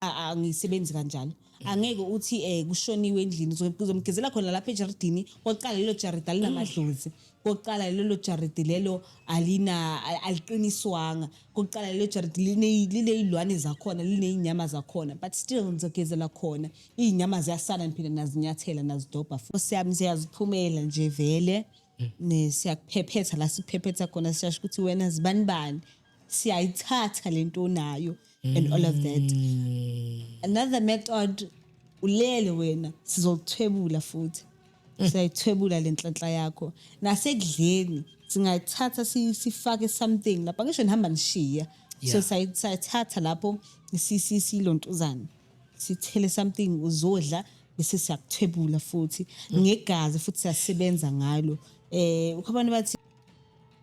angisebenzi kanjalo angeke uthi um kushoniwe endlini uzomgezela khona lapha ejaridini kokuqala lelo jaridi alinamadlozi kokuqala lelo jaridi lelo alina aliqiniswanga kokuqala lelo jaridi lineyilwane zakhona lineyinyama zakhona but still ngizogezela khona iyinyama ziyasana ngiphinde nazinyathela nazidobha futhi yami ziyaziphumela nje vele mm. siyakuphephetha la siphephetha khona siyasho ukuthi wena zibanibani siyayithatha lento onayo and all of that mm. another method ulele wena sizokuthwebula futhi mm. siyayithwebula le nhlanhla yakho nasekudleni singayithatha sifake something lapha ngisho nihamba nishiya so sayithatha lapho silontuzane sithele something uzodla bese siyakuthwebula futhi mm. ngegazi futhi siyasebenza ngalo eh ukhona bathi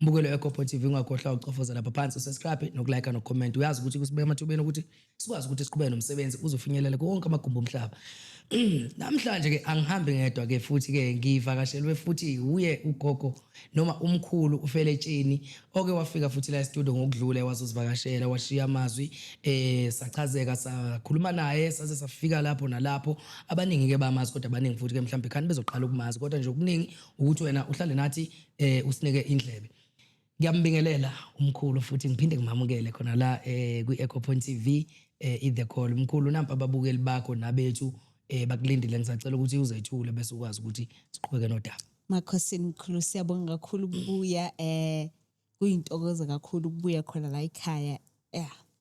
Mbukelo weGopo TV ungakhohlwa ucofoza lapha phansi usubscribe nokulike nokucomment uyazi ukuthi kusibeka emathubeni ukuthi sikwazi ukuthi siqhubeke nomsebenzi uzofinyelela konke amagumbi omhlaba namhlanje ke angihambi ngedwa ke futhi ke ngivakashelwe futhi uye ugogo noma umkhulu ufeletsheni oke wafika futhi la studio ngokudlule wazozivakashela washiya amazwi eh sachazeka sakhuluma naye saze safika lapho nalapho abaningi ke bamazi kodwa abaningi futhi ke mhlawumbe khani bezoqala ukumazi kodwa nje okuningi ukuthi wena uhlale nathi eh usinike indlebe ngiyambingelela umkhulu futhi ngiphinde ngimamukele khona la eh kwi Echo Point TV eh i The Call umkhulu nampa ababukeli bakho nabethu eh bakulindile ngisacela ukuthi uzethule bese ukwazi ukuthi siqhubeke nodaba Makhosini mkhulu siyabonga kakhulu ukubuya eh kuyintokozo kakhulu ukubuya khona la ekhaya yeah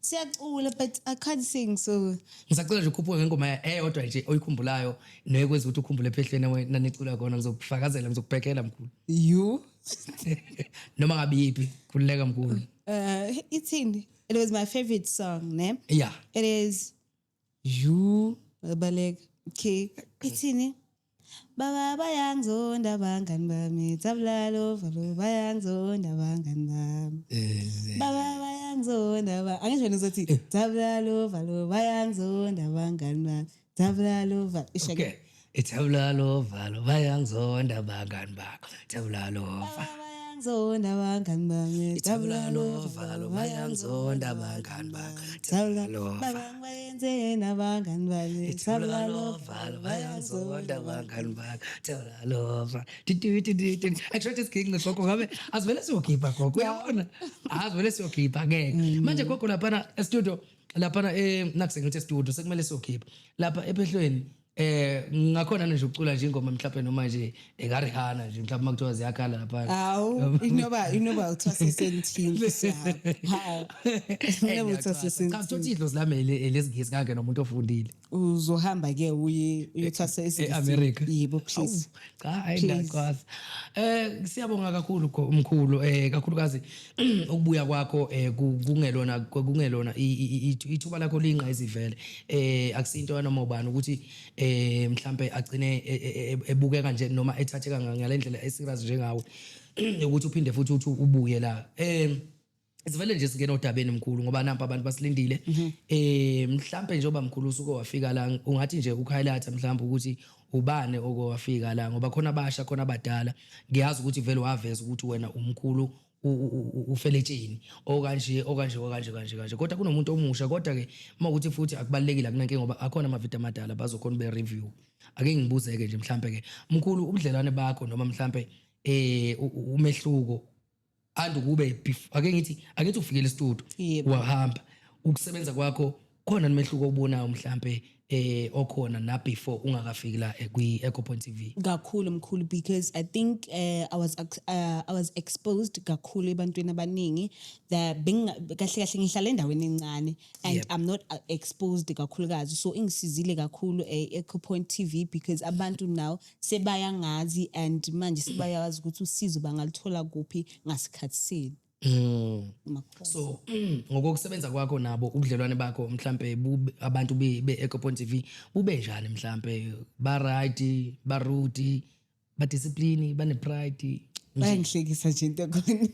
siyacula but i can't sing so ngisacela nje ukhuphuke ngengoma ya- eyodwa nje oyikhumbulayo neyekwenza ukuthi ukhumbule ephehlweni we- nanicula kona ngizokufakazela ngizokubhekela mkhulu you noma ngabe yiphi khululeka mkhulu uh ithini it was my favorite song ne yeah it is Yuu, babaleka. Okay. Ithini? Baba bayangizonda abangani bami. Tabulalo, valo bayangizonda abangani bami. Eh, Baba bayangizonda ba. Angisho wena uzothi tabulalo, valo bayangizonda abangani bami. Tabulalo, valo. Isho Okay. Ithebula lovalo bayangizonda abangani bakho. Ithebula lova. Bayangizonda abangani bami. Ithebula lovalo bayangizonda abangani bakho. Ithebula lova. Babang bayenzeni abangani bami. Ithebula lovalo bayangizonda abangani bakho. Ithebula lova. Tititititi. Actually this king ngoko ngabe asivele siyokhipha gogo. Uyabona? Asivele siyokhipha ngeke. Manje gogo lapha e-studio lapha eh nakusengithi e-studio sekumele siyokhipha. Lapha ephehlweni eh ngakhona nje ucula nje ingoma mhlawumbe noma nje ekarihana nje mhlawumbe makuthiwa ziyakhala lapha hawu inoba inoba uthiwa sesentini hawu inoba uthiwa sesentini cha uthi idlo silame lesingisi kangena umuntu ofundile uzohamba ke uye uyothasa esingisi e-America yebo please cha hayi Please. ngiyakwazi um siyabonga kakhulu kho- mkhulu um kakhulukazi ukubuya kwakho um kungelona kungelona i- i- i- ithu- ithuba lakho liyinqa izivele um akusinto yanoma ubani ukuthi um mhlampe agcine e- e- e- ebukeka nje noma ethatheka nga- ngale ndlela eserious njengawe ukuthi uphinde futhi uthi ubuye la um sivele nje singena odabeni mkhulu ngoba nampa abantu basilindile mhm. eh mhlambe nje oba mkhulu usuke wafika la ungathi nje ukhighlighta mhlambe ukuthi ubane okowafika la ngoba khona abasha khona abadala ngiyazi ukuthi vele waveza ukuthi wena umkhulu ufeletsheni okanje okanje okanje kanje kanje kodwa kunomuntu omusha kodwa ke uma ukuthi futhi akubalekile kunanke ngoba akhona amavideo amadala bazokhona be review ake ngibuze ke nje mhlambe ke mkhulu ubudlelwane bakho noma mhlambe eh umehluko and ukube bef- ake ngithi ake ngithi ufikele istudio Yebo. wahamba ukusebenza kwakho khona nomehluko obubonayo mhlampe eh okhona na before ungakafiki la eh, kwi Echo Point TV kakhulu mkhulu because i think uh, i was ex- uh, i was exposed kakhulu ebantwini abaningi that benginga- kahle kahle ngihlala endaweni encane and Yep. i'm not uh, exposed kakhulukazi so ingisizile kakhulu e-ecopoint tv because abantu now sebayangazi and manje sebayazi ukuthi usizo bangaluthola kuphi ngasikhathi sini Mm. Makhosi. so mm, ngokokusebenza kwakho nabo ubudlelwane bakho mhlampe bube- abantu be- be-ecopon tv bube njani mhlampe baright barude badiscipline banepride bayangihlekisa nje into ekhona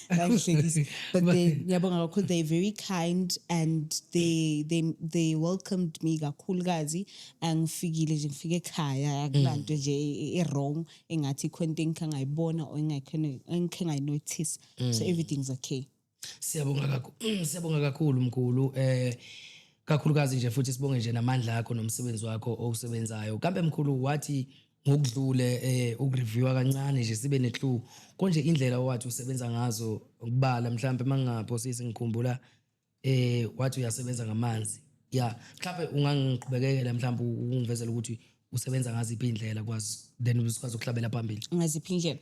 bayangihlekisa but they ngiyabonga kakhulu they very kind and they they they welcomed me kakhulukazi angifikile nje ngifike ekhaya akulanto mm. nje i-wrong engathi ikhona into engikhe ngayibona or engikhe ngayinothisa mm. so everything's okay siyabonga kakhulu mm, siyabonga kakhulu mkhulu eh kakhulukazi nje futhi sibonge nje namandla akho nomsebenzi wakho owusebenzayo kambe mkhulu wathi ngokudlule eh ukureviewa kancane nje sibe neclue konje indlela owathi usebenza ngazo ukubala mhlawumbe mangingaphosisi ngikhumbula eh wathi uyasebenza ngamanzi ya mhlawumbe ungangiqhubekekela mhlawumbe ungivezela ukuthi usebenza ngaziphi indlela kwazi then usikwazi ukuhlabela phambili ngaziphi indlela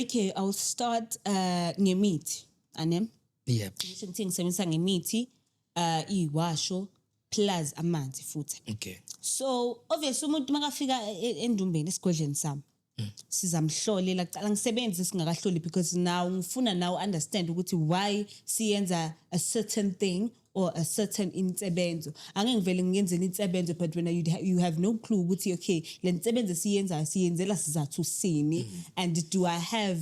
okay i'll start uh ngemithi anem yep ngisho ukuthi ngisebenzisa ngemithi uh iwasho plus amanzi futhi okay so obviously umuntu makafika e- e- endumbeni esigodleni sami Hmm. sizamhlolela kuqala ngisebenzi singakahloli because now ngifuna now understand ukuthi why siyenza a certain thing or a certain insebenzo angeke ngivele ngiyenzela insebenzo but when you, you have no clue ukuthi okay le nsebenzo esiyenzayo siyenzela sizathu sini Hmm. and do i have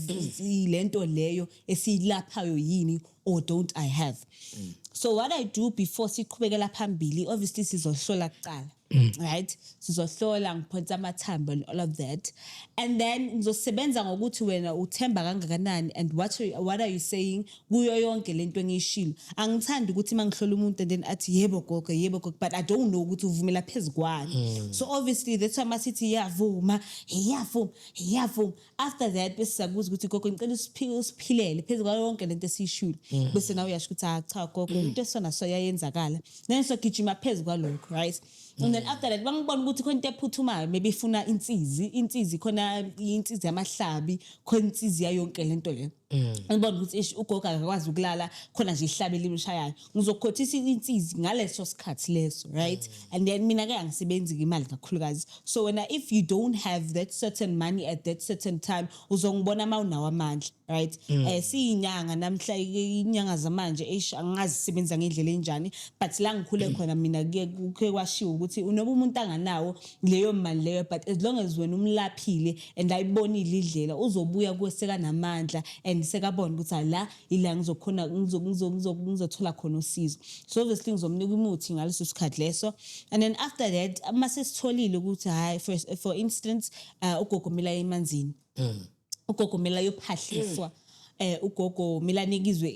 lento leyo esiyilaphayo yini or don't I have mm. so what I do before siqhubekela phambili obviously sizohlola kuqala mm. right sizohlola ngiphonsa amathambo and all of that and then ngizosebenza ngokuthi wena uthemba kangakanani and what are, what are you saying kuyo yonke lento engiyishilo angithandi ukuthi mangihlola umuntu and then athi yebo gogo yebo gogo but I don't know ukuthi uvumela phezukwani mm. so obviously that's why masithi yavuma yavuma yavuma after that bese siyakubuza ukuthi gogo ngicela usiphike usiphilele phezu kwayo yonke lento esiyishule mm. bese nawe uyasho ukuthi ah cha gogo mm. into esona so yayenzakala then so gijima phezu kwalokho right mm. and then after that bangibona ukuthi khona into ephuthumayo maybe ifuna insizi insizi khona insizi yamahlabi khona insizi yayonke lento leyo Mm. ubona ukuthi ish ugogo akakwazi ukulala khona nje ihlabe limshayayo ngizokhothisa insizi ngaleso sikhathi leso right mm. and then mina ke angisebenzi imali kakhulukazi so wena if you don't have that certain money at that certain time uzongibona uma unawo amandla right mm. eh siyinyanga namhla inyanga zamanje eish angazi sebenza ngendlela enjani but la ngikhule khona mina kuke kwashiwo ukuthi unoba umuntu anganawo leyo mali leyo but as long as wena umlaphile and ayibonile idlela uzobuya kuwe sekanamandla and sekabona ukuthi ala ila ngizokhona ngizothola khona usizo so obviously ngizomnika umuthi ngaleso sikhathi leso and then after that uma sesitholile ukuthi hayi for, for instance uh, ugogo mila emanzini mm. ugogo mila yophahliswa mm. eh ugogo milanikizwe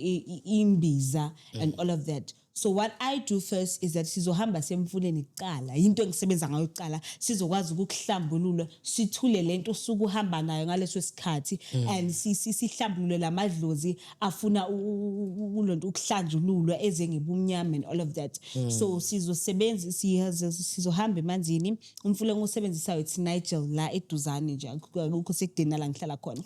imbiza mm. and all of that So what I do first is that sizohamba semfuleni kuqala into engisebenza ngayo kuqala sizokwazi ukuhlambulula sithule lento usuku uhamba nayo ngaleso sikhathi mm. and sihlambulule lamadlozi afuna kulonto ukuhlanjululwa eze ngebumnyama and all of that mm. so sizosebenza sizohamba emanzini umfula ngosebenzisayo it's Nigel la eduzane nje akukho sekudeni la ngihlala khona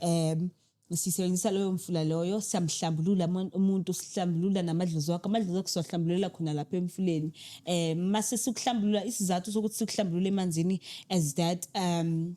um sisebenzisa loyo mfula loyo siyamhlambulula umuntu sihlambulula namadlozi wakho amadlozi wakho siwahlambululela khona lapha emfuleni um mase sikuhlambulula isizathu sokuthi sikuhlambulule emanzini as that um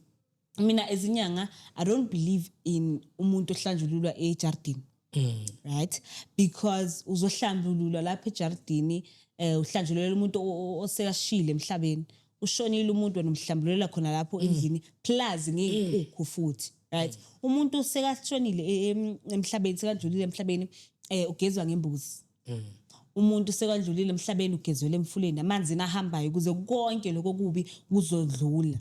mina ezinyanga i don't believe in umuntu ohlanjululwa ejardini Mm. right because uzohlambululwa lapha ejardini eh uhlanjululela umuntu osekashile emhlabeni ushonile umuntu wena umhlambulela khona lapho mm. endlini plus ngey'nkukhu mm. futhi right mm. umuntu sekashonile e, emhlabeni sekadlulile emhlabeni um ugezwa ngembuzi umuntu sekadlulile emhlabeni ugezwele emfuleni amanzini ahambayo kuze konke lokho kubi kuzodlula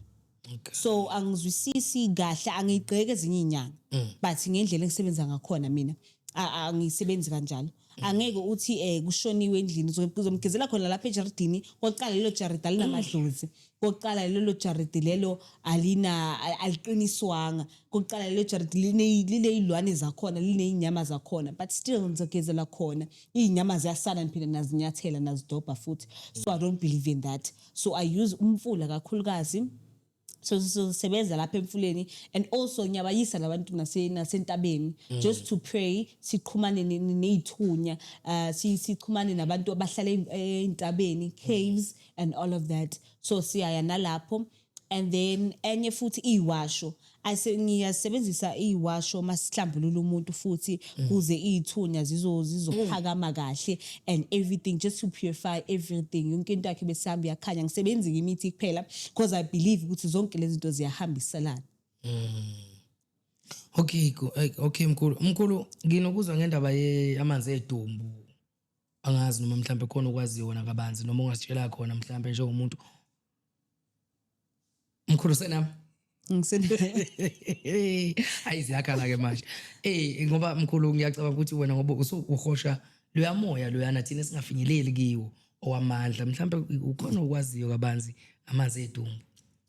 so angizwisisi kahle angiyigqeki ezinye iy'nyanga but ngendlela engisebenza ngakhona mina angisebenzi kanjalo angeke uthi um kushoniwe endlini uzomgezela khona lapha ejaridini kokuqala lelo jaridi alinamadlozi kokuqala lelo jaridi lelo alina aliqiniswanga kokuqala lelo jaridi lineyilwane zakhona lineyinyama zakhona but still ngizogezela khona iyinyama ziyasala ngiphinde nazinyathela nazidobha futhi so i don't believe in that so i use umfula kakhulukazi so sizosebenza lapha emfuleni and also ngiyabayisa labantu nasentabeni mm. just to pray siqhumane neyithunya uh, siqhumane nabantu abahlala eyintabeni mm. caves and all of that so siyaya nalapho and then enye futhi iyiwasho ngiyasebenzisa iyiwasho masihlambulula umuntu futhi Mm. kuze iyithunya zizo zizophakama kahle and everything just to purify everything yonke into yakhe besihamba iyakhanya ngisebenzike imithi kuphela because i believe ukuthi zonke lezi zinto ziyahambiselana mm. okay okay mkhulu mkhulu nginokuzwa ngendaba ye amanzi edumbu angazi noma mhlawumbe khona okwaziyo wona kabanzi noma ungasitshela khona mhlawumbe njengomuntu mkhulu senami ayi ziyakhala ke manje ey ngoba mkhulu ngiyacabanga ukuthi wena ngoba usuhosha loyamoya loyana thina singafinyeleli kiwo owamandla mhlawumbe ukhona okwaziyo kabanzi amanzi edumbu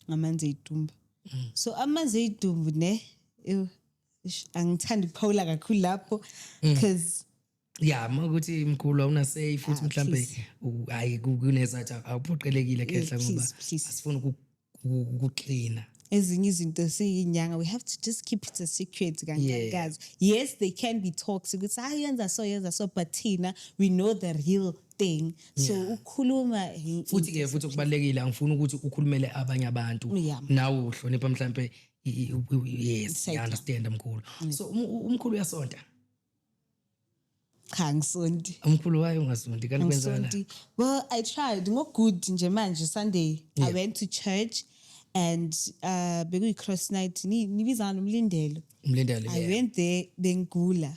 ngamanzi edumbu mm. so amanzi edumbu ne angithandi ukuphawula kakhulu lapho because mm. ya uma ukuthi mkhulu awuna say futhi ah, mhlambe hayi kunezathi awuphoqelekile khehla eh, ngoba asifuni ukuxina ezinye izinto siyinyanga we have to just keep it a secret kangankazi yeah. yes they can be toxic ukuthi hayi ah, yenza so yenza so but thina we know the real thing so yeah. ukhuluma futhi ke futhi okubalekile angifuni ukuthi ukhulumele abanye abantu yeah. nawe uhlonipha mhlambe yes i understand mkhulu so um, umkhulu uyasonta cha ngisondi umkhulu wayo ungasondi kanti kwenzana ngisondi well i tried ngogood nje manje sunday i Yeah. went to church and uh bekuyi-cross night ni- nibizana nomlindelo umlindelo i yeah. went there bengigula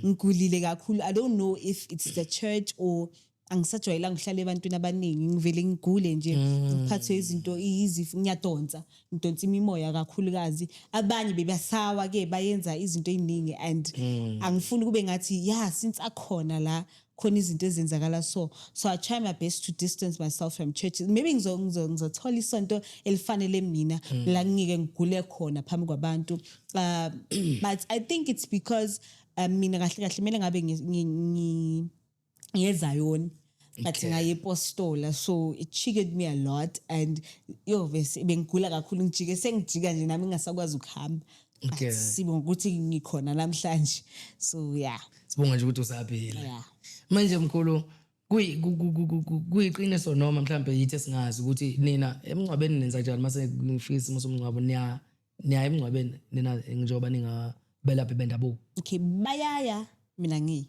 ngigulile kakhulu i don't know if it's the church or angisajwayelanga ukuhlala ebantwini abaningi ngivele ngigule nje ngiphathwe izinto izifo ngiyadonsa ngidonsa imimoya kakhulukazi abanye bebasawa ke bayenza izinto eziningi and angifuni kube ngathi ya since akhona la khona izinto ezenzakala so so i try my best to distance myself from church maybe ngizo- ngizo- ngizothola isonto elifanele mina la ngingeke ngigule khona phambi kwabantu um but i think it's because um mina kahle kahle kumele ngabe ngi- ngi- ngi- ngezayoni but Okay. ngayepostola so it cheated me a lot and yovese bengigula kakhulu ngijike sengijika nje nami ngingasakwazi ukuhamba Okay. but sibonga ukuthi ngikhona namhlanje so yeah sibonga nje ukuthi usaphila Yeah. manje mkhulu kuyi- ku- ku- ku- ku- ku- kuyiqiniso noma mhlawumbe yithi esingazi ukuthi nina emngcwabeni nenza njani mase ngifika isimo somngcwabo niya niya emngcwabeni nina njengoba ningabelaphi bendabuko okay bayaya mina ngiyi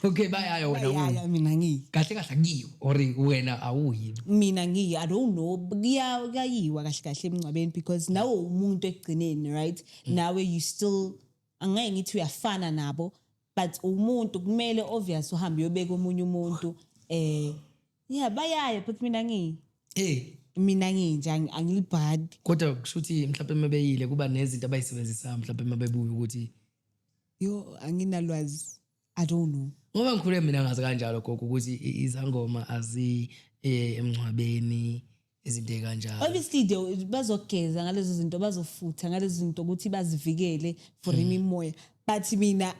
okay bayaya wena bayaya mina ngiyi kahle kahle kuyiwa or wena awuyi mina ngiyi i don't know kuyayiwa kahle kahle emncwabeni because nawe umuntu ekugcineni right mm. nawe you still angeke ngithi uyafana nabo but umuntu kumele obvious uhambe uyobeka omunye umuntu eh yeah bayaya but mina ngiyi eh mina nginje angilibhadi kodwa kusho ukuthi mhlawumbe mebeyile kuba nezinto abayisebenzisa mhlawumbe mabebuya ukuthi yo anginalwazi i don't know ngoba ngikhule mina ngazi kanjalo gogo ukuthi izangoma azi eh, emngcwabeni izinto ekanjalo obviously they bazogeza ngalezo zinto bazofutha ngalezo zinto ukuthi bazivikele for hmm. imimoya but mina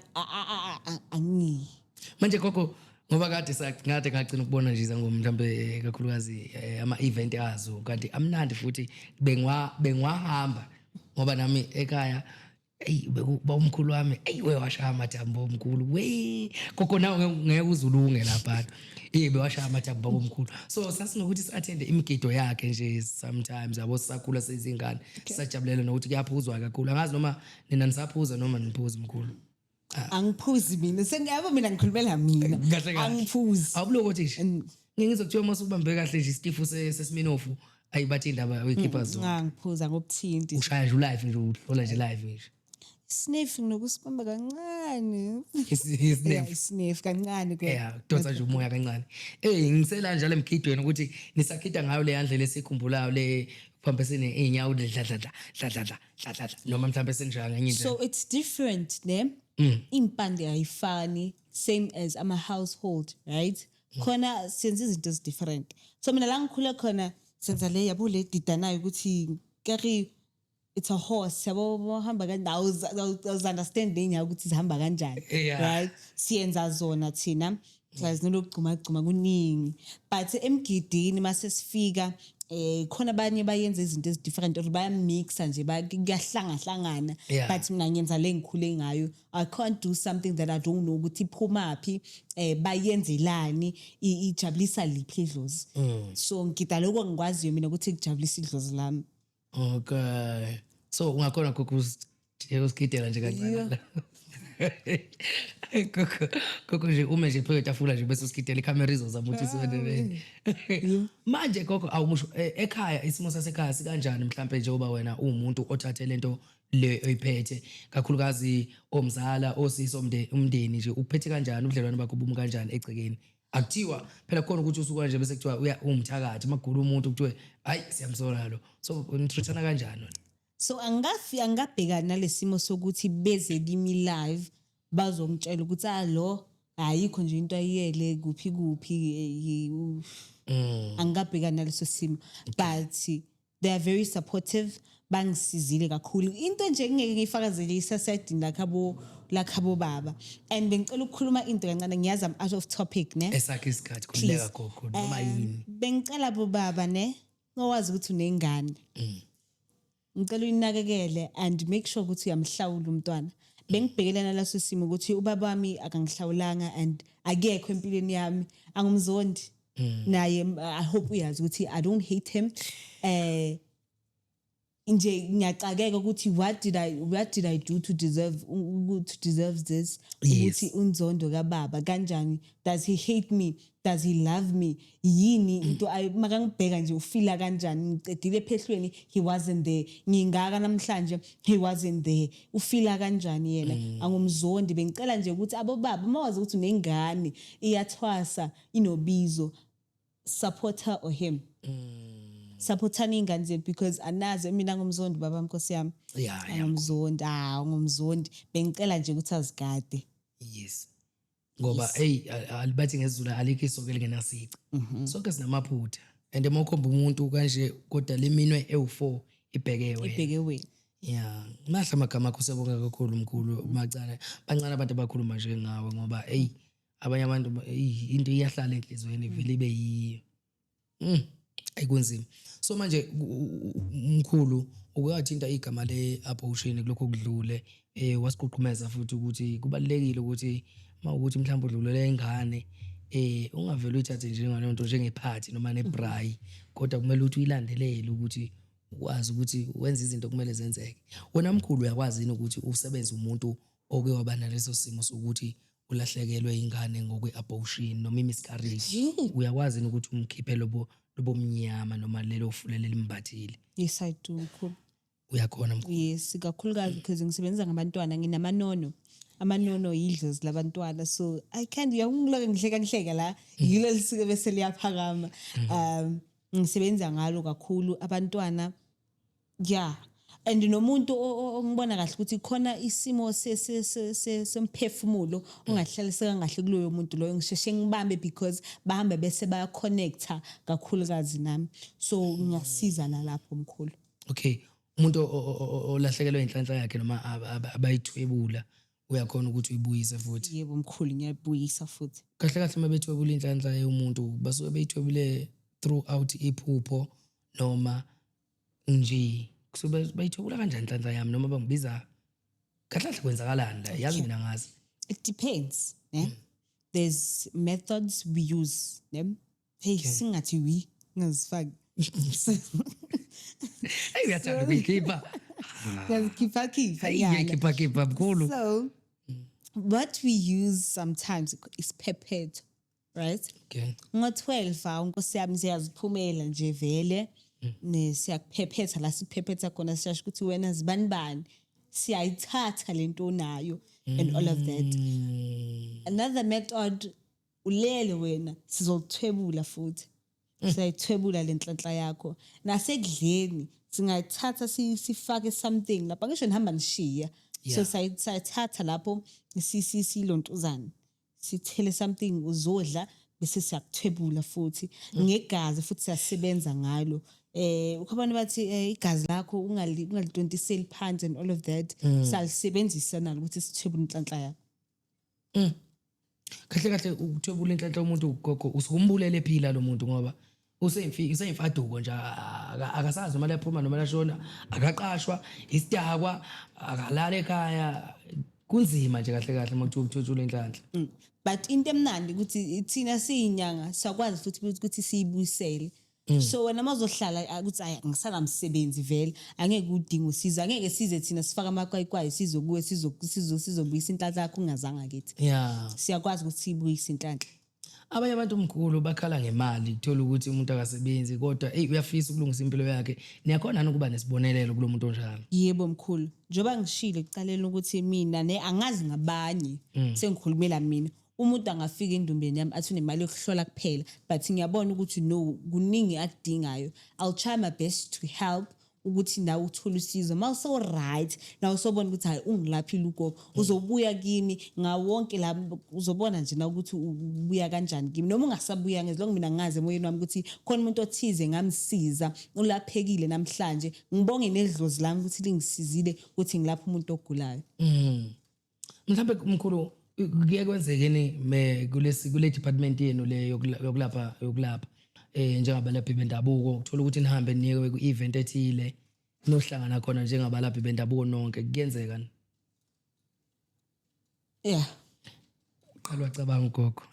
angi manje gogo ngoba kade sakade kagcina ukubona nje izangoma mhlawumbe eh, kakhulukazi eh, ama event azo kanti amnandi futhi bengwa bengwahamba ngoba nami ekhaya eyi bekuba umkhulu wami eyi wewashaya amathambo omkhulu we koko nawe ngeke uzulunge lapha eyi bewashaya amathambo omkhulu so sasinokuthi si-athende imigido yakhe nje sometimes yabo sisakhula sezingane sisajabulela nokuthi kuyaphuzwa kakhulu angazi noma nina nisaphuza noma niphuza mkhulu angiphuzi mina sengiyabo mina ngikhulumela mina Kahle kahle. angiphuzi awubulo kothi nje And- ngeke ngizokuthiwa uma usubambe kahle nje isitifu se- sesiminofu ayi bathi indaba uyikhipha zona nxa ngiphuza ngobuthinti ushaya nje ulive nje uhlola nje live nje snif nginokusibamba kancane Isi- Yeah, isinemfu isnif kancane ke ya kudonsa nje umoya kancane eyi ngisela njalo emgidweni ukuthi nisakhida ngayo leya ndlela esikhumbulayo le kuphambesene iy'nyawo dladladla dladladla hlatlatla noma mhlawumbe senjalo ngenye indlela so it's different ne mm. impande ayifani same as ama household right mm. khona senza izinto ezi different so mina la ngikhule khona senza le yabo le didanayo ukuthi kari it's a horse yabo bohamba kandawo understand lenyaka ukuthi zihamba kanjani right siyenza zona thina siyazi nolokugcumagcuma kuningi but emgidini mase sifika eh khona abanye bayenza izinto ezidifferent or bayamixa nje ba- kuyahlangahlangana Yeah. but mina ngenza le ngikhule ngayo i can't do something that i don't know ukuthi iphumaphi eh bayenzelani i- ijabulisa liphi idlozi so ngida lokho ngikwaziyo mina ukuthi kujabulisa idlozi lami okay so ungakhona kukusigidela nje kancane koko koko nje ume nje phezu kwetafula nje bese usigidela ikhamera izozama ukuthi isondelele manje koko awumusho e- ekhaya isimo sasekhaya sikanjani mhlawumbe njengoba wena uwumuntu othathe lento le oyiphethe kakhulukazi omzala osisi omnde- umndeni nje uphethe kanjani ubudlelwane bakho bumi kanjani egcekeni akuthiwa phela khona ukuthi usuka nje bese kuthiwa uya umthakathi magula umuntu kuthiwe hayi siyamsola lo so nitreatana kanjani so angafi angabhekani nalesimo sokuthi beze kimi live bazongitshela ukuthi ah lo ayikho nje into ayiyele kuphi kuphi eh, mm. angikabhekani naleso simo but they are very supportive bangisizile kakhulu into nje kungeke ngiyifakazele isasedini lakhabo lakhabo baba and bengicela ukukhuluma into kancane ngiyazi am out of topic ne esakhe isikhathi khuleka gogo noma um, yini bengicela bo baba ne ngowazi ukuthi unengane mm. ngicela uyinakekele and make sure ukuthi uyamhlawula umntwana bengibhekelana laso simo ukuthi ubaba wami akangihlawulanga and akekho empilweni yami angumzondi mm. naye i hope uyazi ukuthi i don't hate him eh nje ngiyaxakeka ukuthi what did i what did i do to deserve to deserve this ukuthi unzondo kababa kanjani does he hate me does he love me yini mm. into makangibheka nje ufila kanjani ngicedile ephehlweni he wasn't there ngingaka namhlanje he wasn't there ufila kanjani yena mm. angumzondi bengicela nje ukuthi abobaba mawazi ukuthi unengane iyathwasa inobizo support her or him supportani iy'ngane zethu because anazi mina ngumzondi baba nkosi yami Yeah, yeah. angumzondi ah ngumzondi bengicela nje ukuthi azigade yes ngoba eyi a- a- bathi ngezulu alikho isoke lingenasici Mhm. sonke sinamaphutha and uma ukhomba umuntu kanje kodwa liminwe ewu-four ibheke wena ibheke wena ya mahle amagama akho sebonga kakhulu mkhulu macane bancane abantu abakhuluma njengawe ngoba eyi abanye abantu ba- eyi, into iyahlala enhliziyweni ivele ibe yiyo Mm, ayi kunzima so manje ku- u- u- mkhulu ukuyathinta igama le-abortion kulokho kudlule um wasiququmeza futhi ukuthi kubalulekile ukuthi uma ukuthi mhlawumbe udlulela ingane um ungavele uyithathe njengaleyo nto njengephathi noma nebrayi kodwa kumele ukuthi uyilandelele ukuthi ukwazi ukuthi wenze izinto kumele zenzeke wena mkhulu uyakwazi yini ukuthi usebenze umuntu oke waba naleso simo sokuthi ulahlekelwe ingane ngokwe-abortion noma i-miscarriage uyakwazi yini ukuthi umkhiphe lobo lobomnyama noma lelo fulele limbathile yes i do mkhulu uyakhona mkhulu yes kakhulukazi because ngisebenza ngabantwana nginamanono amanono yidlozi labantwana so i can't uyangiloko ngihleka ngihleka la mm. yilo lisuke bese liyaphakama mm. um ngisebenza ngalo kakhulu abantwana Yeah. And nomuntu ongibona kahle ukuthi khona isimo semphefumulo ongahlaliseka kahle kuloyo muntu loyo ngisheshe ngibambe because bahambe bese baya connecta kakhulukazi nami. So ngiyasiza nalapho mkhulu. Okay. Umuntu olahlekelwe inhlanhla yakhe noma abayithwebula uyakhona ukuthi uyibuyise futhi. Yebo mkhulu ngiyayibuyisa futhi. Kahle kahle uma bethwebula inhlanhla yomuntu basuke beyithwebule throughout iphupho noma nje so bayithwebula kanjani nhlanhla yami noma bangibiza kahle kahle kwenzakalani la yazi mina ngazi it depends ne hmm. there's methods we use ne hey singathi we ngazifaki hey uyathanda ukuyikhipha ngiyazikhipha khipha iyakhipha khipha mkhulu so what we use sometimes isiphephetho right okay ngo 12 awu nkosi yami siyaziphumela nje vele hmm. ne siyakuphephetha la siphephetha khona siyasho ukuthi wena zibani bani siyayithatha lento nayo and all of that hmm. another method ulele wena sizokuthwebula futhi hmm. siyayithwebula lenhlanhla yakho nasekudleni singayithatha sifake something lapha ngisho nihamba nishiya so sayithatha lapho silontuzane sithele something uzodla bese siyakuthwebula futhi mm. ngegazi futhi siyasebenza ngalo eh ukhabana bathi eh, igazi lakho ungali ungalitontiseli phansi and all of that mm. salisebenzisa nalo ukuthi sithwebule inhlanhla yakho mm. kahle kahle ukuthwebula inhlanhla umuntu ugogo usukumbulele phila lo muntu ngoba useyimfiki useyimfaduko nje aka- akasazi noma laphuma noma lashona akaqashwa isidakwa akalala ekhaya kunzima nje kahle kahle uma kuthiwa uthutshula inhlanhla Mm. but into emnandi ukuthi thina siyinyanga siyakwazi futhi ukuthi- ukuthi siyibuyisele Mm. so wena uma uzohlala ah, ukuthi ayi ngisangamsebenzi vele angeke udinga usizo angeke size thina sifake amakwayikwayi size kuwe sizo- sizo- sizobuyisa inhlanhla yakho ungazanga kithi ya siyakwazi ukuthi siyibuyise inhlanhla abanye abantu mkhulu bakhala ngemali kuthola ukuthi umuntu akasebenzi kodwa eyi uyafisa ukulungisa impilo yakhe niyakhona yini ukuba nesibonelelo kulo muntu onjalo yebo mkhulu njengoba ngishilo ekuqaleni ukuthi mina ne angazi ngabanye mm. sengikhulumela mina umuntu angafika endumbeni yami athi unemali yokuhlola kuphela but ngiyabona ukuthi no kuningi akudingayo i'll try my best to help ukuthi nawe uthole usizo uma uso-right nawe usobona ukuthi hhayi ungilaphile ugogo mm. uzobuya kimi ngawonke la uzobona nje na ukuthi ubuya kanjani kimi noma ungasabuya ngezilongo mina ngazi emoyeni wami ukuthi khona umuntu othize ngamsiza ulaphekile namhlanje ngibonge nedlozi lami ukuthi lingisizile ukuthi ngilapha umuntu ogulayo mm. mhlawumbe mkhulu kuye kwenzekeni me kulesi kule department yenu le yokulapha yokulapha eh njengabalaphi bendabuko uthola ukuthi nihambe niye ku event ethile nohlangana khona njengabalaphi bendabuko nonke kuyenzeka ni yeah qala wacabanga ugogo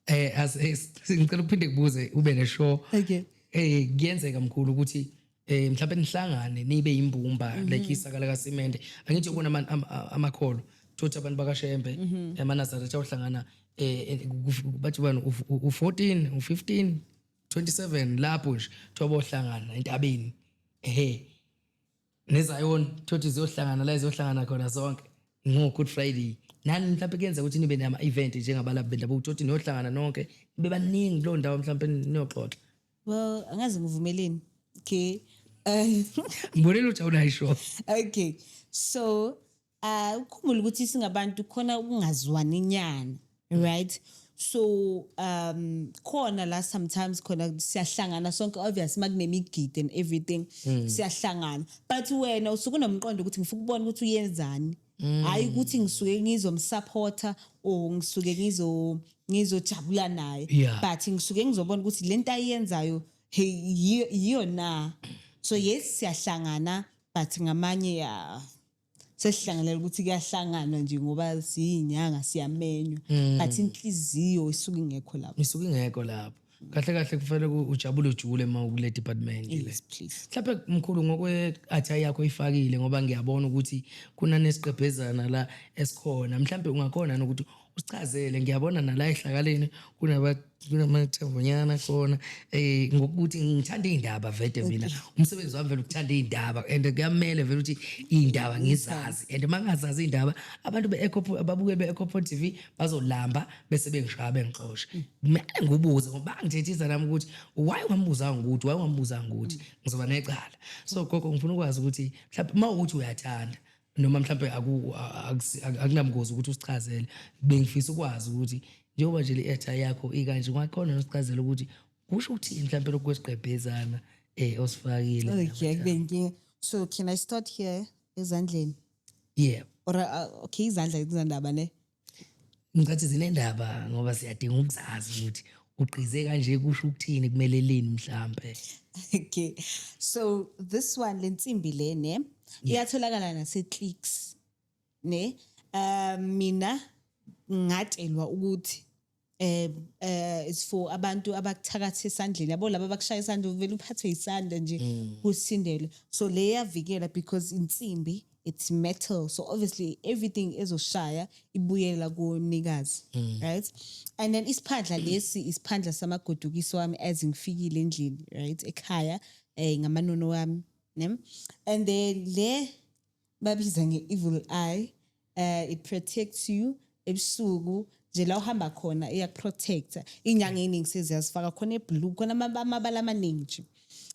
eh as eh, ngicela uphinde kubuze ube ne show okay eh kuyenzeka mkhulu ukuthi eh mhlawumbe nihlangane nibe imbumba mm -hmm. like isakala kasimende angithi ubona amakholo ama thothi abantu bakashembe mm -hmm. emanazaretha ohlangana eh, eh bathi bani u14 u15 27 lapho nje thobo ohlangana entabeni ehe nezayoni thothi ziyohlangana la ziyohlangana khona zonke ngo-good friday nani mhlawumpe kuyenzeka ukuthi nibe nama-event njengabalaphi bendabuko thothi niyohlangana nonke nibe baningi kuleyo ndawo mhlawumpe niyoxoxa well angazi ngivumeleni okay um ngibonile ujawulayisho okay so uh ukhumbule ukuthi singabantu khona ukungazwani nyana right so um khona la sometimes khona siyahlangana sonke obvious makunemigidi and everything hmm. siyahlangana but wena usuke unomqondo ukuthi ngifuna ukubona ukuthi uyenzani hmm. hayi ukuthi ngisuke ngizomsupporter or ngisuke ngizo ngizojabula naye but ngisuke ngizobona ukuthi lento ayenzayo yiyo na so yes siyahlangana but ngamanye ya sesihlanganela ukuthi kuyahlanganwa nje ngoba siyinyanga siyamenywa mm. but inhliziyo isuke ingekho lapho isuke ingekho lapho kahle kahle kufanele ujabule ujule uma ukule department le mhlawumbe mkhulu ngokwe-athayi yakho ifakile ngoba ngiyabona ukuthi kunanesiqebhezana la esikhona mhlawumbe ungakhona nokuthi usichazele ngiyabona nala ehlakaleni kunaba kunamathembunyana khona eh ngokuthi ngithanda indaba vede mina umsebenzi wami vele ukuthanda indaba and kuyamele vele ukuthi indaba ngizazi and mangazazi indaba abantu be Echo ababuke be Echo TV bazolamba bese bengishaya bengixosha mina ngubuze ngoba ngithethisa nami ukuthi why ungambuza ngokuthi why ungambuza ngokuthi ngizoba necala so gogo ngifuna ukwazi ukuthi mhlawumbe mawukuthi uyathanda noma mhlawumbe akunabungozi ukuthi usichazele bengifisa ukwazi ukuthi njengoba nje le-etha yakho ikanje ungakhona nosichazela ukuthi kusho ukuthini mhlawumbe lokhu kwesigqebhezana um osifakile okay kube inkinga so can i start here ezandleni yeah or uh, okay izandla kuzandaba ne Ngicathi zinendaba ngoba siyadinga ukuzazi ukuthi ugqize kanje kusho ukuthini kumele lini mhlambe. Okay. So this one lensimbi le ne iyatholakala nase clicks ne um mina ngatshelwa ukuthi eh eh it's for abantu abakuthakatha esandleni yabo laba bakushaya isandla uvele uphathwe isandla nje mm. kusindele so le yavikela because insimbi it's metal so obviously everything ezoshaya ibuyela kumnikazi mm. right and then isiphandla lesi isiphandla samagodukiso wami as ngifikile endlini right ekhaya eh ngamanono wami ne and then le babiza nge-evil eye uh, it protects you ebusuku nje la uhamba khona iyakuprotecta iy'nyanga ey'ningi seziyazifaka khona eblue khona amabala amaningi nje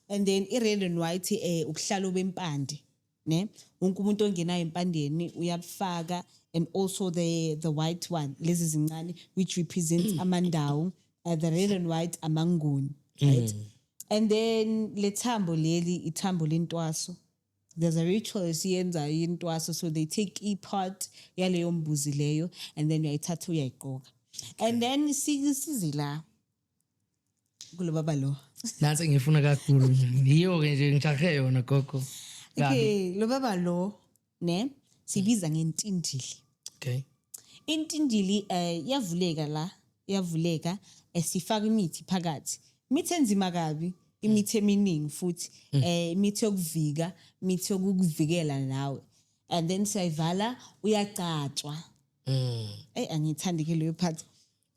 and then i-red and white um eh, ubuhlalo bempande ne wonke umuntu ongenayo empandeni uyabufaka and also the, the white one lezi zincane which represents amandawo uh, the red and white amanguni right mm. and then le thambo leli ithambo lentwaso there's a ritual esiyenzayo yintwaso so they take i-part yaleyo mbuzi leyo and then uyayithatha uyayigqoka and then size la kulo baba lo nansi engiyifuna kakhulu yiyo-ke nje ngijahe yona gogo okay lo baba lo ne sibiza ngentindili okay intindili eh yavuleka la yavuleka esifaka eh, imithi phakathi imithi enzima kabi imithi eminingi futhi mm. eh imithi yokuvika imithi yokukuvikela nawe and then siyayivala uyagcatshwa mm. eyi angiyithandi ke leyo part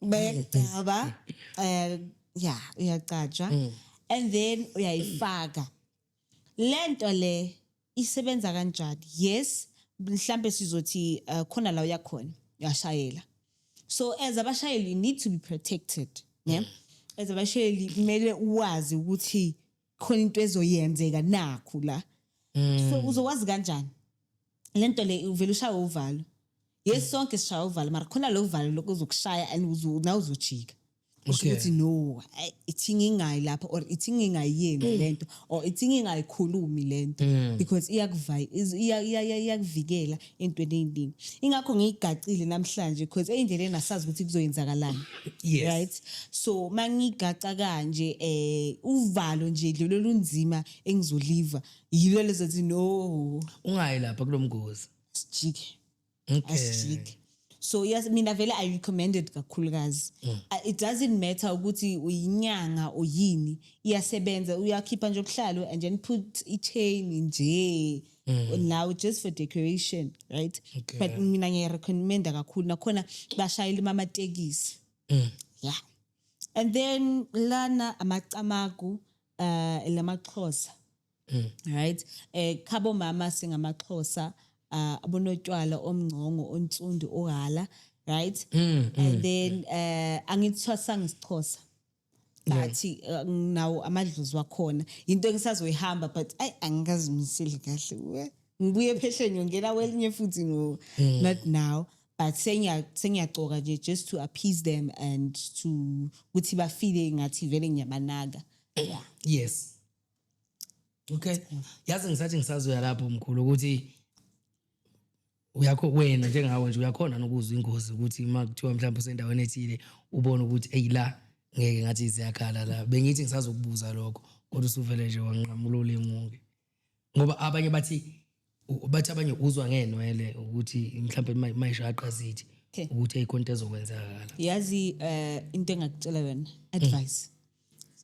bayagcaba um eh, ya uyagcatshwa mm. and then uyayifaka lento le isebenza kanjani yes mhlambe sizothi uh, khona la uyakhona uyashayela so as abashayeli you need to be protected yeah mm. as abashayeli kumele uwazi ukuthi khona into ezoyenzeka nakhu la mm. so uzowazi kanjani lento le uvela ushaya uvalo yes mm. sonke sishaya uvalo mara khona lo valo lokuzokushaya and nawe uzojika usho Okay. ukuthi no ay, ithi ngingayi lapho or ithi ngingayenzi lento or ithi ngingayikhulumi lento because iyakuvayi iz- iya- iya- iya- iyakuvikela entweni eyiningi ingakho ngiyigacile namhlanje because eyindleleni asazi ukuthi kuzoyenzakalani Yes. right so mangigaca kanje eh uvalo nje lelo lunzima engizoliva yilo lezothi no ungayi lapha kulomgozi sijike okay. asishiki so yes mina vele i recommended kakhulukazi mm. uh, it doesn't matter ukuthi uyinyanga oyini iyasebenza uyakhipha nje obuhlalo and then put i-chain nje mm. now just for decoration right okay. but mina ngiyarecommenda kakhulu nakhona bashayela imamatekisi mm. yeah and then lana amacamagu uh, lamaxhosa mm. right eh khabo mama singamaxhosa uh, abonotywala omngcongo ontsundu ohala right mm, mm, and mm. then um uh, angithwasanga isixhosa bathi uh, nawo amadlozi wakhona yinto engisazoyihamba but ayi angikazimiseli kahle ngibuye phesheni ngiyongena kwelinye futhi ngo mm. not now but sengiyagcoka nje just to appease them and to ukuthi bafile ngathi vele ngiyabanaka yeah yes okay yazi ngisathi ngisazoya lapho mkhulu ukuthi uyakho wena njengawe nje uyakhona nokuzwa ingozi ukuthi uma kuthiwa mhlawumbe usendaweni ethile ubone ukuthi eyi la ngeke ngathi ziyakhala la bengithi ngisazokubuza lokho kodwa usuvele nje wanqamula ulimuke ngoba abanye bathi bathi abanye uzwa ngeenwele ukuthi mhlawumbe ma- mayishaqa zithi Okay. ukuthi eyikonto ezokwenzakala yazi eh into engakutshela yona advice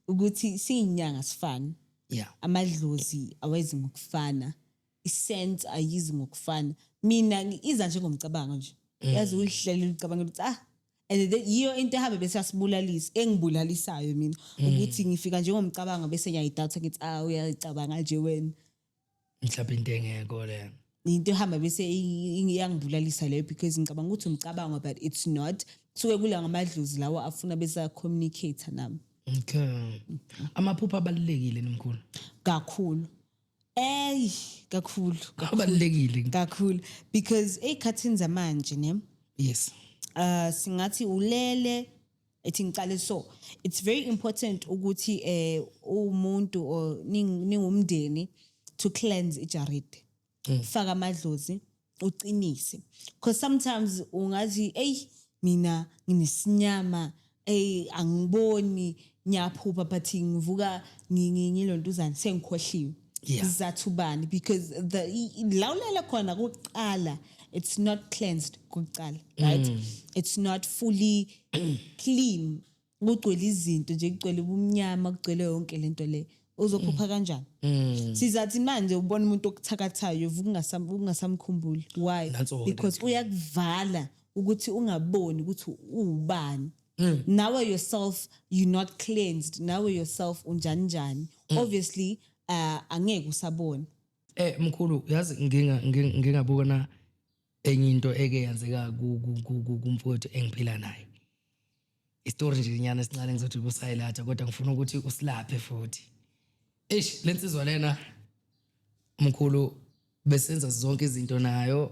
ukuthi siyinyanga sifana ya amadlozi awezi ngokufana isense ayizi ngokufana mina ngi- iza nje ngomcabango nje yazi ulihlele ulicabanga ukuthi ah and then yiyo into ehambe bese yasibulalisa engibulalisayo mina ukuthi ngifika nje ngomcabango bese ngiyayidoubt ngithi ah uyayicabanga nje wena mhlawumbe into engekho lena into ehamba bese iyangibulalisa leyo because ngicabanga ukuthi umcabango but it's not kusuke kula ngamadlozi lawo afuna besa communicate nami okay amaphupha abalulekile nomkhulu kakhulu ey kakhulu abalulekile kakhulu because ezikhathini zamanje ne yes uh singathi ulele ethi ngicale so it's very important ukuthi eh umuntu or ning- ningumndeni to cleanse ijaridi faka amadlozi uqinise because sometimes ungathi ey mina nginesinyama ey angiboni ngiyaphupha but ngivuka ngi- ngi- ngilontuzana sengikhohliwe yeah. sizathu bani because the la ulele khona kuqala it's not cleansed kuqala right mm. it's not fully clean kugcwele izinto nje kugcwele ubumnyama kugcwele yonke lento le uzophupha mm. kanjani mm. sizathi manje ubona umuntu okuthakathayo ungasamkhumbuli why because uyakuvala ukuthi ungaboni ukuthi uwubani mm. nawe yourself you not cleansed nawe yourself unjani njani mm. obviously uh, angeke usabone eh mkhulu yazi nginga ngingabona enye into eke yenzeka kumfowethu engiphila naye istory nje nyana esincane ngizothi kusayilatha kodwa ngifuna ukuthi usilaphe futhi eish lensizwa lena mkhulu besenza zonke izinto nayo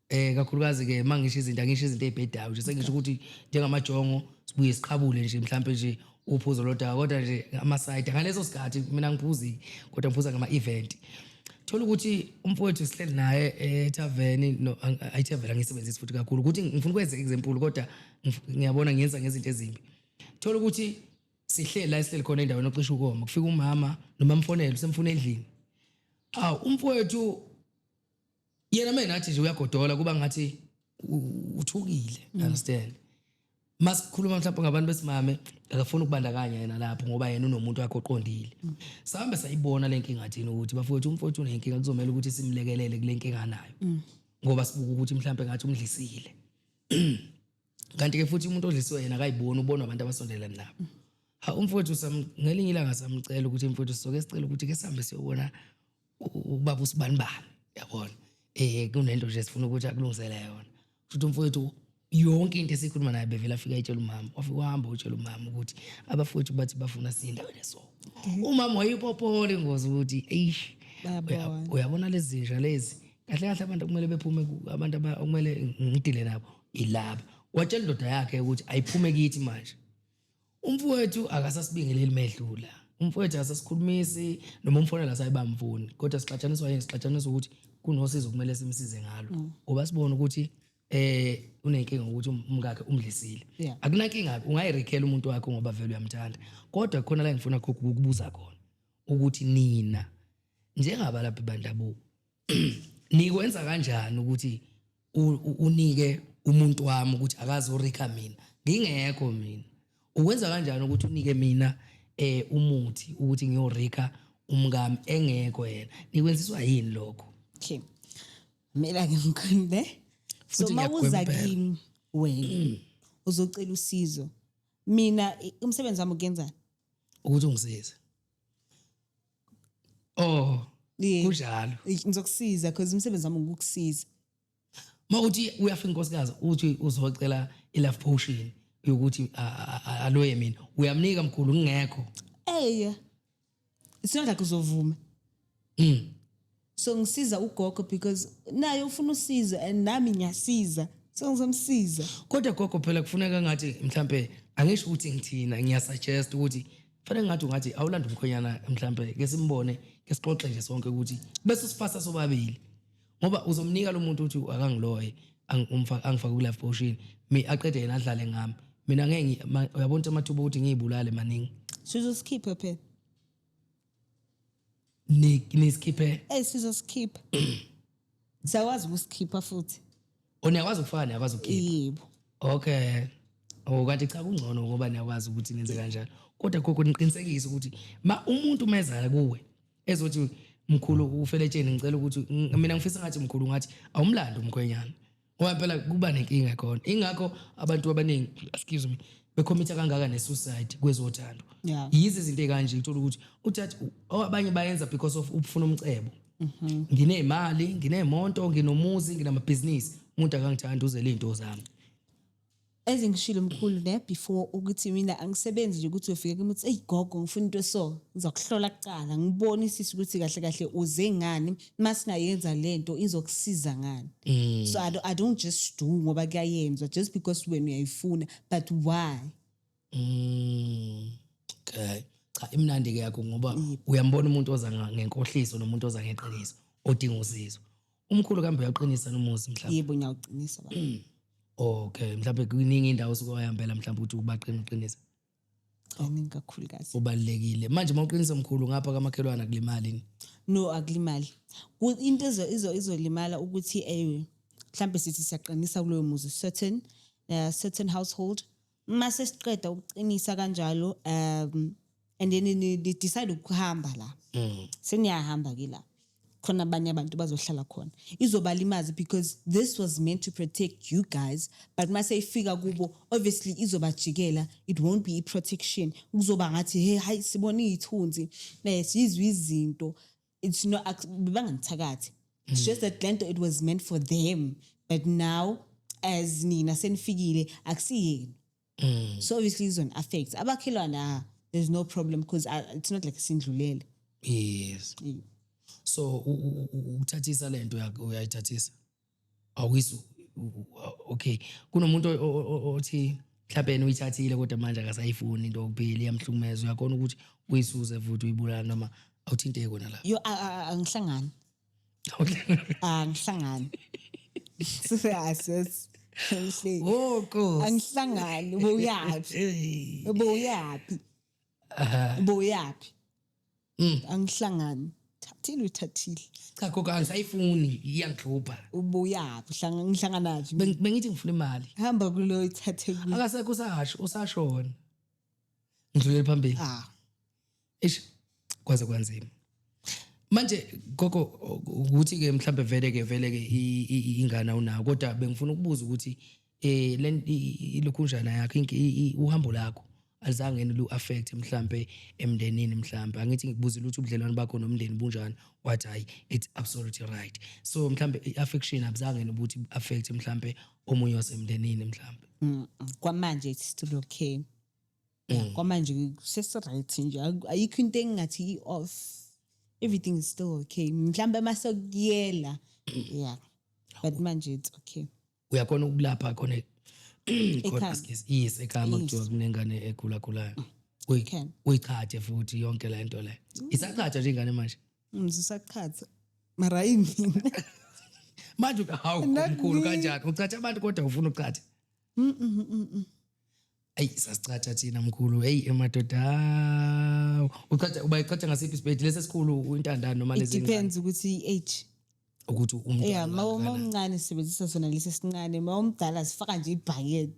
eh kakhulukazi ke mangisho izinto angisho izinto ezibhedayo nje sengisho ukuthi njengamajongo sibuye siqabule nje mhlambe nje uphuzo lodaka kodwa nje ama side ngaleso sikhathi mina ngiphuzi kodwa ngiphuza ngama event thola ukuthi umfowethu sihleli naye eh, etaveni no ayitaveni angisebenzisi futhi kakhulu ukuthi ngifuna ukwenza example kodwa ngiyabona ngiyenza ngezinto ezimbi thola ukuthi sihleli la esihleli khona endaweni ocisha ukoma kufika umama noma mfonele usemfuna endlini aw umfowethu yena mina athi nje uyagodola kuba ngathi uthukile mm. understand masikhuluma mhlawumbe ngabantu besimame akafuni ukubandakanya yena lapho ngoba yena unomuntu wakhe oqondile mm. sahambe sayibona le nkinga thina ukuthi bafowethu umfowethu unenkinga kuzomele ukuthi simlekelele kule nkinga anayo mm. ngoba sibuka ukuthi mhlawumbe ngathi umdlisile kanti ke futhi umuntu odlisiwe yena akayiboni ubona abantu abasondele nabo ha umfowethu ngelinye ilanga samcela ukuthi mfowethu soke sicela ukuthi ke sihambe siyobona ubaba usibani bani yabona eh kunento nje sifuna ukuthi akulungisele yona futhi umfowethu yonke into esikhuluma naye bevela afika etshela umama wafika wahamba utshela umama ukuthi abafowethu bathi bafuna sindaweni so umama wayipophole ngozi ukuthi eish uyabona lezi zinja lezi kahle kahle abantu kumele bephume abantu okumele ngidile nabo ilaba watshela indoda yakhe ukuthi ayiphume kithi manje umfowethu akasasibingeleli medlula umfowethu akasasikhulumisi noma umfonela asayibamfuni kodwa sixatshaniswa yini sixatshaniswa ukuthi kunosizo kumele simsize ngalo mm. ngoba sibona ukuthi eh unenkinga ukuthi um-, umkakhe umdlisile yeah. akunankinga ungayirekhela umuntu wakho ngoba vele uyamthanda kodwa khona la ngifuna ukubuza khona ukuthi nina njengabalaphi bandabuko nikwenza kanjani ukuthi unike umuntu wami ukuthi akazorika mina ngingekho mina ukwenza kanjani ukuthi unike mina eh umuthi ukuthi ngiyorika umkami engekho yena nikwenziswa yini lokho okay mina ngimkhonde so mawuza kimi wena mm. uzocela usizo mina umsebenzi wami ukuyenzani ukuthi ungisize oh Yeah. kunjalo Eish, ngizokusiza because umsebenzi wami ukukusiza uma uthi uyafika inkosikazi uthi uzocela i-love potion yokuthi a- a- a- aloye mina uyamnika mkhulu ngingekho eya it's not like uzovuma Mm. so ngisiza ugogo because naye ufuna usizo and nami ngiyasiza so ngizomsiza kodwa gogo phela kufuneka ngathi mhlampe angisho ukuthi ngithina ngiyasuggest ukuthi fanele ngathi ungathi awulanda umkhonyana mhlampe ke simbone ke sixoxe nje sonke ukuthi bese sifasa sobabili ngoba uzomnika lo muntu uthi akangiloye ang- umfa- angifake ku-life potion mi aqede yena adlale ngami mina ngeke ngi- ma- uyabona ukuthi amathuba okuthi ngiyibulale maningi sizosikhipha phela Ni- nisikhiphe eyi sizosikhipha siyakwazi ukusikhipha futhi o niyakwazi ukufaka niyakwazi ukukhipha yebo okay o kanti cha kungcono ngoba niyakwazi ukuthi nenze kanjalo kodwa gogo niqinisekise ukuthi ma umuntu mezala kuwe ezothi mkhulu ufeletsheni ngicela ukuthi ng- mina ngifisa ngathi mkhulu ngathi awumlando umkhwenyana ngoba phela kuba nenkinga khona ingakho abantu abaningi excuse me bekhomitha kangaka nesuicide kwezothando yeah. yizi izinto ekanje uthola ukuthi uthatha abanye bayenza because of ukufuna umcebo mhm. nginemali nginemonto nginomuzi nginamabhizinisi umuntu akangithanda uzele izinto zami As ngishilo mkhulu ne before ukuthi mina angisebenzi nje ukuthi uyofika kimi uthi eyigogo ngifuna into eso ngizokuhlola kuqala ngibone isisi ukuthi kahle kahle uze ngani masingayenza lento izokusiza ngani mm. so I don't, I don't just do ngoba kuyayenzwa just because wena uyayifuna but why Mm. Okay. Cha imnandi ke yakho ngoba uyambona umuntu oza nga- ngenkohliso nomuntu oza ngeqiniso odinga usizo. Umkhulu kambe uyaqinisa nomuzi mhlawumbe. yebo ngiyawuqinisa baba Okay, mhlawumbe kuningi indawo osuke wayambela mhlawumbe ukuthi ubaqina uqinisa. kaningi kakhulukazi Ubalekile. Manje mawuqinisa mkhulu ngapha kamakhelwana kulimali. ni? no akulimali Ku- into ezo- izo- izolimala ukuthi eh mhlambe sithi siyaqinisa kuloyo muzi certain uh, certain household mase siqeda ukuqinisa kanjalo um and then ni ni decide ukuhamba la Mm. seniyahamba ke la khona abanye abantu bazohlala khona izobalimazi because this was meant to protect you guys but mase ifika kubo obviously izobajikela it won't be protection kuzoba ngathi hey hayi sibona iyithunzi eh sizwe izinto it's not ac- bebangangithakathi it's just that lento it was meant for them but now as nina senifikile akusiyenu so obviously izon affect abakhelwane ah there's no problem because it's not like sindlulele yes so u- u- u- ukuthathisa lento uyak- uyayithathisa awizwa okay kunomuntu othi mhlawumbe yena uyithathile kodwa manje akasayifuni into yokuphila iyamhlukumeza uyakhona ukuthi uyisuze futhi uyibulala noma awuthinteki kona la yo angihlangani angihlangani siyases Woko. Angihlangani ubuyaphi? Ubuyaphi? Aha. ubuyaphi Mm. angihlangani thathile uyithathile Cha gogo angisayifuni iyangihlupha. ubuyaphi Hlanga- ngihlanganaphi Beng- Bengithi ngifuna imali. hamba kulo ithathe kulo Akasekho usasho usashona. Ngidlulele phambili. ah Eish kwaze kwanzima. Manje gogo ukuthi ke mhlambe vele ke vele ke i- i- ingane awunayo kodwa bengifuna ukubuza ukuthi eh le ilukhunjana yakho uhambo lakho alizange lu affect mhlambe emndenini mhlambe angithi ngikubuzile ukuthi ubudlelwane bakho nomndeni bunjani wathi hayi it's absolutely right so mhlambe i-affection abuzange nokuthi affect mhlambe omunye wasemndenini mhlambe mm, kwamanje it's still okay mm. kwamanje sesiright nje ayikho into engingathi i-off everything is still okay mhlambe uma sekuyela yeah but manje it's okay uyakhona ukulapha khona yes ekhama kuthiwa kunengane egulagulayo mm. uyichathe futhi yonke le nto leyo mm. isachatha nje ingane manje ngizisachatha mm, mara yimina manje hawu mkhulu kanjani uchatha abantu kodwa ufuna uchatha eyi sasichatsha thina mkhulu eyi emadoda hawu. uchatsha uba ichatsha ngasiphi isibhedi lesi esikhulu intandane noma it lezi depends ukuthi i-age ukuthi ya umntwana ma uma kangakanani. umncane sisebenzisa sona lesi esincane ma umdala sifaka nje ibhakede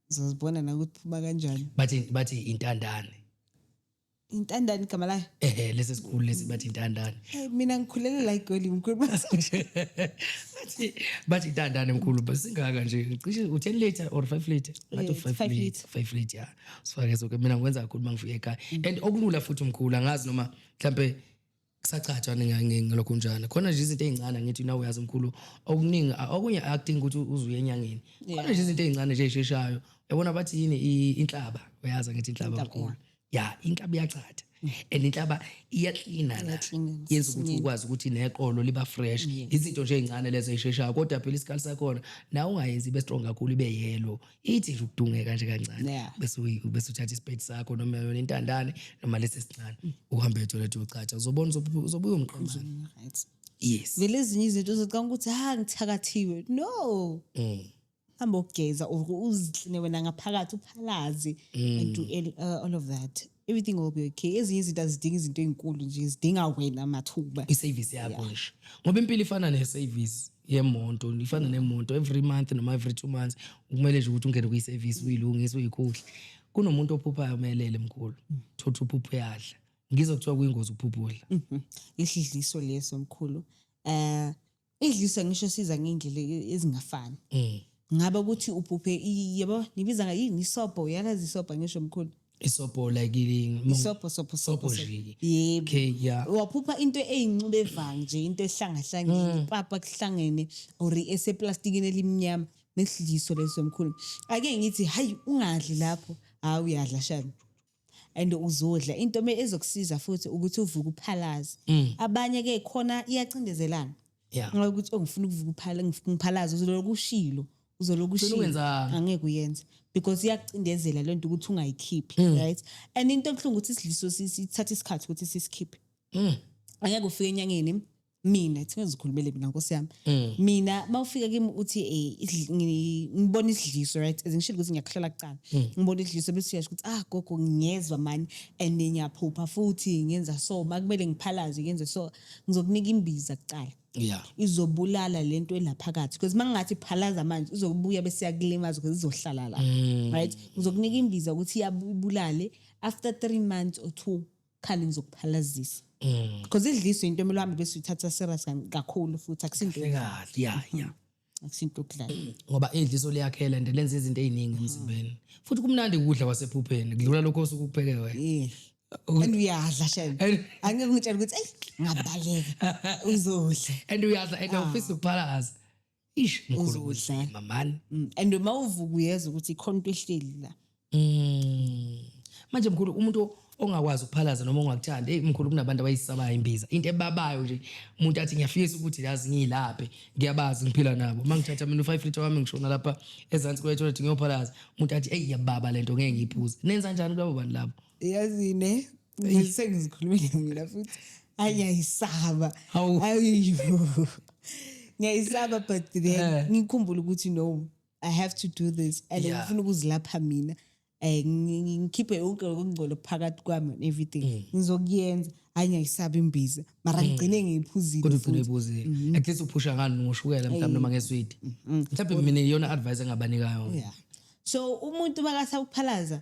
zozibona nakuthi phuma kanjani bathi bathi intandane intandane igama layo ehe lesi esikhulu lesi bathi intandane hey mina ngikhulele la igoli mkhulu bathi bathi intandane mkhulu basingaka nje cishe u10 liter or 5 liter bathi 5 liter 5 liter yeah sifake so ke mina ngikwenza kakhulu mangifika ekhaya and okulula futhi mkhulu angazi noma mhlambe kusacatshwa ngalokho njalo khona nje izinto ezincane ngithi nawe uyazi mkhulu okuningi okunye acting ukuthi uzuye enyangeni khona nje izinto ezincane nje esheshayo yabona bathi yini inhlaba uyazi ngithi inhlaba mkhulu ya inhlaba iyachatha and inhlaba iyaklina la yenza ukuthi ukwazi ukuthi neqolo liba fresh izinto nje ezincane lezo esheshayo kodwa phela isikhathi sakhona nawe ungayenzi ibe strong kakhulu ibe yellow ithi nje ukudungeka nje kancane Yeah. bese uyi- bese uthatha isipedi sakho noma yona intandane noma lesi sincane uhambe etoilet uyochatsha uzobona uzobu- uzobuya umqemane Right. yes vele ezinye izinto uzocanga ukuthi ha ngithakathiwe no Mm. hamba ogeza or uzikline wena ngaphakathi uphalaze and do el- uh, all of that everything will be okay ezinye izinto azidinga izinto ezinkulu nje zidinga wena mathuba iservice yakho nje ngoba impilo ifana neservice yemonto ifana mm. nemonto every month noma every two months kumele nje ukuthi ungene kuyiservice uyilungise uyikhuhle kunomuntu ophuphayo umelele mkhulu mm. thotha uphupho yadla ngizokuthiwa kuyingozi ukuphupha udla mm-hmm. isidliso leso mkhulu eh idlisa ngisho siza ngey'ndlela e- ezingafani Mm. ngabe ukuthi uphuphe i- yabo nibiza nga yini isobho uyalazi isobho ngisho mkhulu isobho like i- isobho sobho Sobho sobho nje. yebo okay yeah waphupha into eyinxube evanga nje into ehlangahlangene ipapa kuhlangene or eseplastikini elimnyama nesidliso leso mkhulu ake ngithi hayi ungadli lapho hayi uyadla shani and uzodla into me ezokusiza futhi ukuthi uvuke uphalaze mm. abanye ke khona iyacindezelana yeah. ngoba ukuthi ongifuna oh, ukuvuka uphala ngiphalaze uzoloku ushilo uzoloku ushilo angeke uyenze because iyakucindezela lento ukuthi ungayikhiphi mm. right and into ebuhlungu ukuthi isidliso sithatha isikhathi ukuthi sisikhiphe mm. angeke ufike enyangeni mina kuthiwa ngizikhulumele mina nkosi yami mm. mina uma ufika kimi uthi eh, ngibona isidliso right as ngishilo ukuthi ngiyakhohlela kucala mm. ngibona isidliso bese uyasho ukuthi ah gogo ngiyezwa mani and ngiyaphupha futhi ngenza so makumele ngiphalaze ngenze so ngizokunika imbiza kucala yeah izobulala lento elaphakathi because mangathi phalaza manje izobuya bese yakulimaza because izohlala la mm. right ngizokunika imbiza ukuthi iyabulale after 3 months or 2 khali ngizokuphalazisa because idliso into emele uhambe bese uthatha serious kan- kakhulu futhi akusinto kahle kahle ya ya akusinto okudlala ngoba idliso liyakhela and lenza izinto eziningi emzimbeni futhi kumnandi ukudla kwasephupheni kudlula lokho osuke ukupheke wena yeah and uyadla shame And- angeke ngitshela ukuthi eyi ngabaleka uzodla and uyadla and awufisi ukuphalaza Ish mkhulu Uzodla. kunzima man. Mm, and uma uvuka uyeza ukuthi ikhona into ehleli la Mm. Manje mkhulu umuntu ongakwazi ukuphalaza noma ongakuthandi hey mkhulu kunabantu abayisabayo imbiza into ebabayo nje umuntu athi ngiyafisa ukuthi yazi ngiyilaphe ngiyabazi ngiphila nabo mangithatha mina u5 liter wami ngishona lapha ezansi kwe toilet ngiyophalaza umuntu athi hey yababa lento ngeke ngiyiphuze nenza kanjani kulabo bantu labo yazine sengizikhulumile mina futhi hayi ngiyayisaba ayiyo ngiyayisaba but then eh. ngikhumbula ukuthi no i have to do this and yeah. ngifuna ukuzilapha mina eh ngikhiphe yonke lokungcolo phakathi kwami and everything mm. ngizokuyenza hayi ngiyayisaba imbiza mara mm. ngigcine ngiyiphuzile kodwa ugcine uyiphuzile mm-hmm. at least uphusha ngani ngoshukela mhlawumbe noma ngeswidi mm-hmm. mhlawumbe mina iyona advice engabanikayo yeah so umuntu makasawuphalaza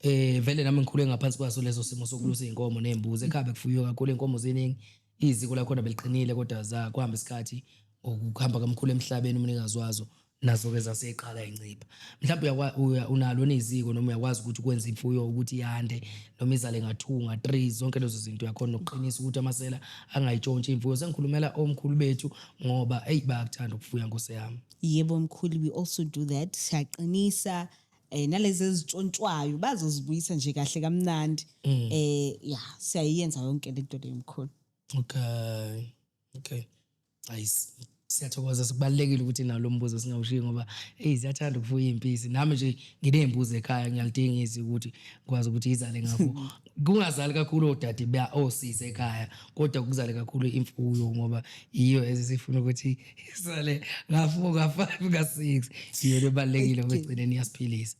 Eh vele nami ngikhule ngaphansi kwaso leso simo sokulusa izinkomo nezimbuzi ekhaya bekufuywe kakhulu izinkomo ziningi iziko lakhona beliqinile kodwa za kuhamba isikhathi ngokuhamba kamkhulu emhlabeni umnikazi wazo nazo-ke zaseqala incipha mhlawumbe unalo neziko noma uyakwazi ukuthi ukwenza imfuyo ukuthi yande noma izale ngathunga three zonke lezo zinto uyakhona nokuqinisa ukuthi amasela angayitshontshi imfuyo sengikhulumela omkhulu bethu ngoba eyi bayakuthanda ukufuya nkose yami yebo mkhulu we also do that siyaqinisa eh nalezi ezitshontshwayo bazozibuyisa nje kahle kamnandi mm. eh ya siyayenza yonke lento le mkhulu okay okay ayis siyathokoza sikubalekile ukuthi nawo lombuzo singawushiyi ngoba hey siyathanda ukufuya impisi nami nje nginezimbuzi ekhaya ngiyalidinga izi ukuthi kwazi ukuthi izale ngakho kungazali kakhulu odade ba osisi ekhaya kodwa kuzale kakhulu imfuyo ngoba iyo ezisifuna ukuthi isale ngafu ka 5 ka 6 iyona ebalekile kwegcineni yasiphilisa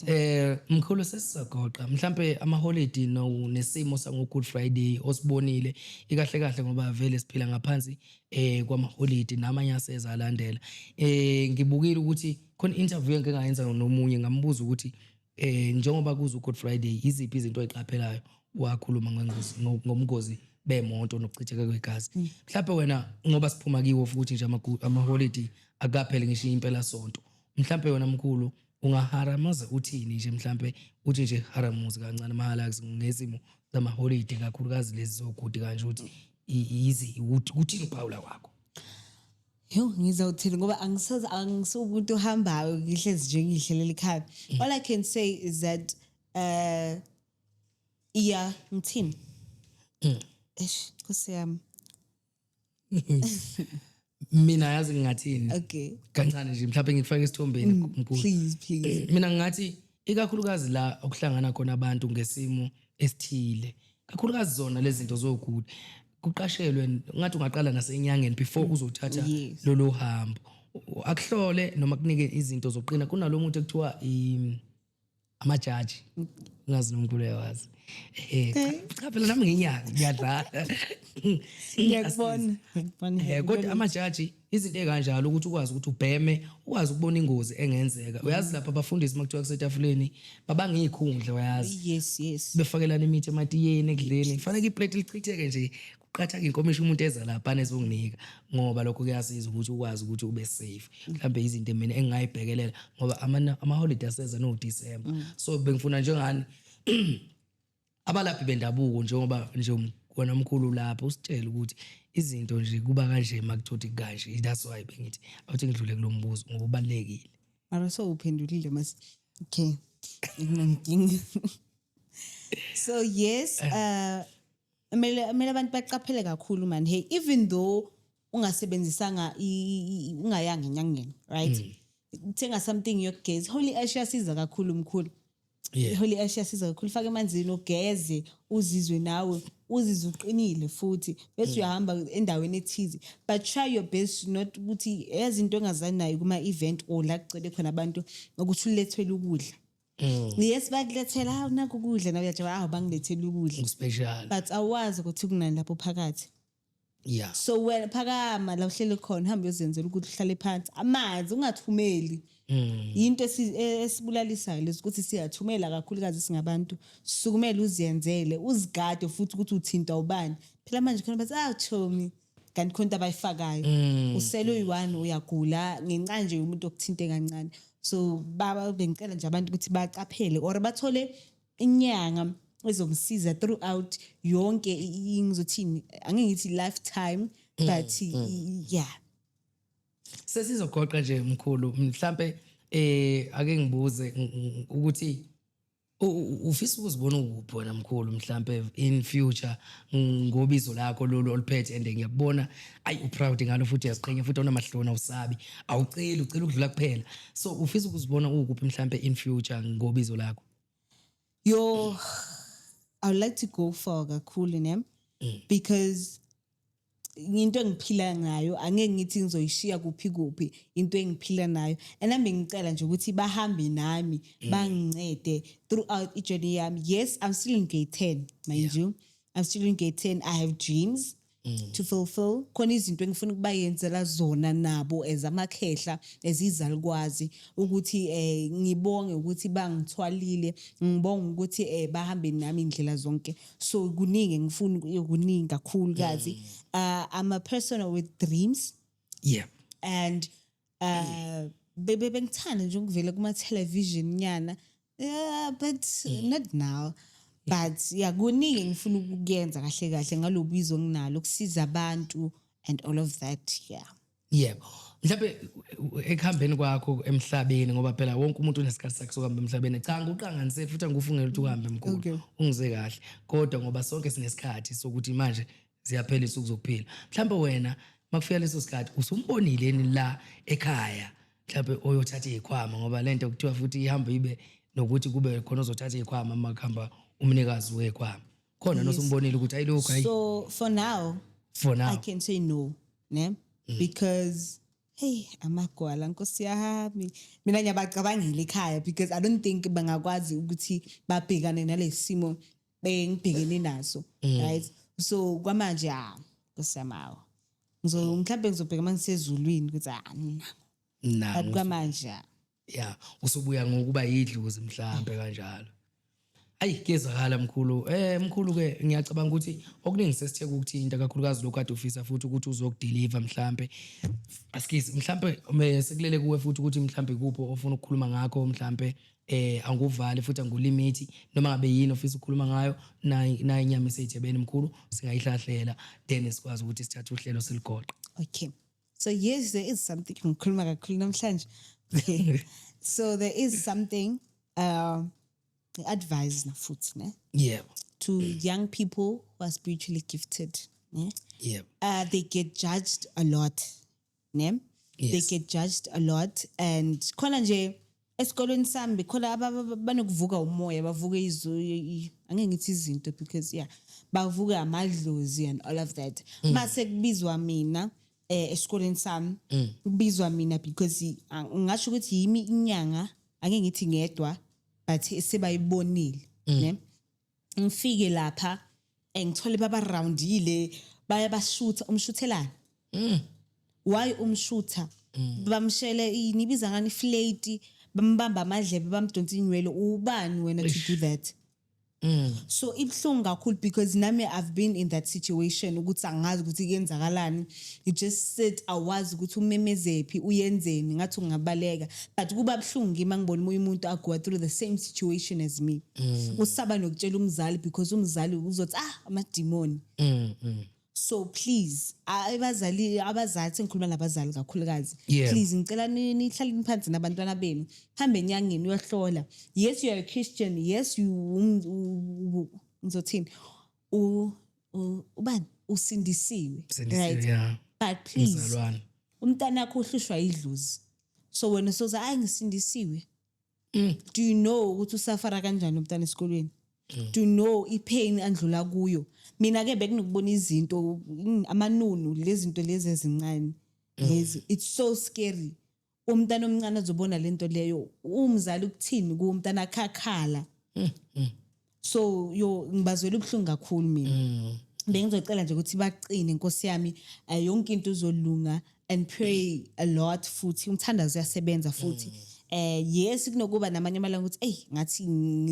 eh mkhulu sesisagoqa mhlambe ama holiday no nesimo sango good friday osibonile ikahle kahle ngoba vele siphila ngaphansi eh kwama holiday namanye aseza alandela eh ngibukile ukuthi khona interview engike ngayenza nomunye ngambuza ukuthi Eh njengoba kuza uGood Friday iziphi izinto oyiqaphelayo wakhuluma ngengozi ngomgozi bemoto nokuchitheka kwegazi. Mm. Mhlawumbe wena ngoba siphuma kiwo futhi nje ama ama holiday akaphele ngisho impela sonto. Mhlawumbe wena mkhulu ungaharamaza uthini nje mhlawumbe uthi nje haramuzi kancane mahala ngezimo zama holiday kakhulukazi lezi zokude kanje ukuthi yizi ukuthi uthini uphawula kwakho. Yho ngizawuthini ngoba angisoze angisuwumuntu ohambayo ngihlezi nje ngihlelela ikhaya. Mm. All I can say is that uh iya ngithini? Mm. Eish Nkosi yami. Mina yazi ngingathini? Okay. Kancane nje mhlawumbe ngikufake isithombeni mm, mkhulu. Please please. Mina ngingathi ikakhulukazi la okuhlangana khona abantu ngesimo esithile kakhulukazi zona lezi zinto zogula kuqashelwe ngathi ungaqala nasenyangeni before mm. uzothatha yes. lolu hambo akuhlole noma kunike izinto zoqina kunalo muntu ekuthiwa amajaji ngazi nomkhulu yawazi eh, eh. cha phela nami nginyaka ngiyadlala ngiyakubona ngiyakubona eh, kodwa amajaji Izinto ezikanjalo ukuthi ukwazi ukuthi ubheme, ukwazi ukubona ingozi engenzeka. Mm. Uyazi lapha abafundisi makuthiwa kusetafuleni babanga izikhundla uyazi. Yes yes. Befakelana imithi ematiyeni ekudleni. Kufanele iplate lichitheke nje qathaga inkomishi umuntu eza lapha anezokunika ngoba lokho kuyasiza ukuthi ukwazi ukuthi ube safe mhlambe izinto mina engingayibhekelela ngoba ama holiday aseza no December mm. so bengifuna njengani abalaphi bendabuko njengoba nje um, wena mkhulu lapho usitshele ukuthi izinto nje kuba kanje makuthothi kanje that's why bengithi awuthi ngidlule kulombuzo ngoba ubalekile mara so uphendulile mas okay nginamdingi so yes eh. uh mele mele abantu baqaphele kakhulu man hey even though ungasebenzisanga ungayanga enyangeni right mm. uthenga something yokugeza holy ash yasiza kakhulu mkhulu yeah. holy ash yasiza kakhulu fake emanzini ugeze uzizwe nawe uzizwe uqinile futhi bese mm. uyahamba endaweni ethize but try your best not ukuthi yazi into engazani nayo kuma-event or la kucele khona abantu ukuthi ulethwele ukudla Mm. yes bakulethela hawu nakho ukudla nawe uyajawa hawu bangilethela ukudla but awazi ukuthi kunani lapho phakathi yeah so wena phakama la uhleli khona hamba uyozenzela ukuthi uhlale phansi amanzi ungathumeli hmm. yinto e-, esibulalisayo lezi ukuthi siyathumela kakhulukazi singabantu sukumele uziyenzele uzigade futhi ukuthi uthinta ubani phela manje khona bathi ah chomi kanti khona into abayifakayo hmm. usele uyi-one uyagula ngenxa nje yomuntu okuthinte kancane so baba bengicela nje abantu ukuthi baqaphele or bathole inyanga ezomsiza throughout yonke ngizothini angeke ngithi lifetime mm, but mm. yeah sesizogoqa nje mkhulu mhlambe eh ake ngibuze ukuthi ufisa ukuzibona ukuphi wena mkhulu mhlambe in future ngobizo lakho lolu oliphethe and ngiyakubona ayi uproud ngalo futhi uyaziqhenya futhi awunamahloni awusabi awuceli ucela ukudlula kuphela so ufisa ukuzibona ukuphi mhlambe in future ngobizo lakho Yo, I would like to go for kakhulu ne mm. because into engiphila ngayo angeke ngithi ngizoyishiya kuphi kuphi into engiphila nayo and nami ngicela nje ukuthi bahambe nami mm. bangincede throughout i-journey yami yes i'm still in gate 10 mind yeah. you i'm still in gate 10 i have dreams Mm. to fulfill khona izinto engifuna ukubayenzela zona nabo as amakhehla as izalukwazi ukuthi eh ngibonge ukuthi bangithwalile ngibonga ukuthi eh bahambe nami indlela zonke so kuningi engifuna kuningi kakhulu kazi mm. uh, I'm a person with dreams yeah and uh bebe bengithanda nje ukuvela kuma television nyana yeah but mm. not now but yeah kuningi ngifuna ukuyenza kahle kahle ngalobizo nginalo ukusiza abantu and all of that yeah yebo mhlawumbe ekuhambeni kwakho emhlabeni ngoba phela wonke umuntu unesikhathi sakhe sokuhamba emhlabeni cha nguqanganise futhi angikufungela ukuthi uhambe mkhulu ungize kahle kodwa ngoba sonke sinesikhathi sokuthi manje ziyaphela izinsuku zokuphila mhlawumbe wena makufika leso sikhathi usumbonile yini la ekhaya mhlawumbe oyothatha izikhwama ngoba lento kuthiwa futhi ihamba ibe nokuthi kube khona ozothatha izikhwama uma kuhamba umnikazi wezikhwama khona Yes. nosumbonile ukuthi ayilokhu ayi so for now for now i can say no ne Mm. because hey amagwala nkosi yami mina ngiyabacabangela ekhaya because i don't think bangakwazi ukuthi babhekane nalesimo engibhekene naso right so kwamanje ha kusemawo ngizo mhlawumbe ngizobheka uma ngisezulwini ukuthi ah nina na but kwamanje ha ya usubuya ngokuba yidlozi mhlambe kanjalo ayi kuyezakala mkhulu eh mkhulu ke ngiyacabanga ukuthi okuningi sesithe kukuthinta kakhulukazi lokhu kade ufisa futhi ukuthi uzokudeliver mhlambe askies mhlambe me- sekulele kuwe futhi ukuthi mhlambe kupho ofuna ukukhuluma ngakho mhlambe eh anguvali futhi angulimithi noma ngabe yini ofisa ukukhuluma ngayo nayi nayi inyama esejebeni mkhulu singayihlahlela then sikwazi ukuthi sithathe uhlelo siligoqe okay so yes there is something ngikhuluma kakhulu namhlanje okay so there is something uh advise na futhi ne yeah to young people who are spiritually gifted ne yeah uh they get judged a lot ne yes. they get judged a lot and khona nje esikolweni sami bekhona banokuvuka umoya bavuke izu angeke ngithi izinto because yeah bavuke amadlozi and all of that mm. mase kubizwa mina eh esikoleni sami mm. kubizwa mina because ngasho ukuthi yimi inyanga angeke ngithi ngedwa but sebayibonile mm. ne ngifike lapha eh, ngithole baba roundile bayabashutha umshuthelana mm. why umshutha mm. bamshele nibiza ngani flate bambamba amadlebe bamdonsa inywele ubani wena to do that Mm. so ibuhlungu kakhulu because nami i've been in that situation ukuthi angazi ukuthi kuyenzakalani you just sit awazi ukuthi umemezephi uyenzeni ngathi ungabaleka but kuba buhlungu kimi angibona umunye umuntu agoa through the same situation as me mm. usaba nokutshela umzali because umzali uzothi ah amadimoni mm, mm. so please abazali abazali sengikhuluma nabazali kakhulukazi yeah. please ngicela nihlale niphansi nabantwana benu hambe enyangeni uyohlola yes you are a christian yes you um, ngizothini u- ubani usindisiwe Sindisiwe, right yeah. but please Mzalwane. umntana wakho uhlushwa idlozi so wena soze ayi ngisindisiwe Mm. do you know ukuthi usafara kanjani umntana esikolweni Mm. do you know ipain andlula kuyo mina ke bekunokubona izinto mm, amanunu lezinto lezi ezincane lezi it's so scary umntana omncane azobona lento leyo umzali ukuthini ku umntana akhakhala hmm, hmm. so yo ngibazwela ubuhlungu kakhulu mina hmm. bengizocela nje ukuthi baqine nkosi yami eh, yonke into uzolunga and pray a lot futhi umthandazo uyasebenza futhi mm. eh yes kunokuba namanye amalanga ukuthi hey ngathi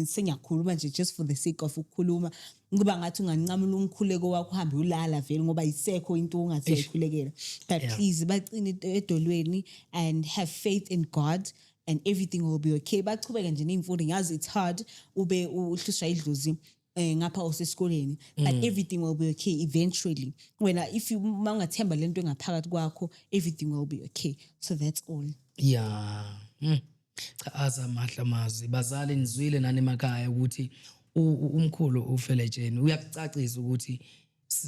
sengiyakhuluma nje just for the sake of ukukhuluma Kuba ngathi unganqamula umkhuleko wakho uhambe ulala vele ngoba isekho into ongathi Eish. uyayikhulekela. But Yeah. please baqine ed- edolweni and have faith in God and everything will be okay. Bachubeke nje neyimfundo ngazi it's hard ube uhlushwa idlozi eh ngapha usesikoleni but everything will be okay eventually. Wena if you uma ungathemba lento engaphakathi kwakho everything will be okay. So that's all. Yeah. Mm. Cha azamahla mazwi bazali nizwile nani emakhaya ukuthi umkhulu ufeletsheni uyakucacisa ukuthi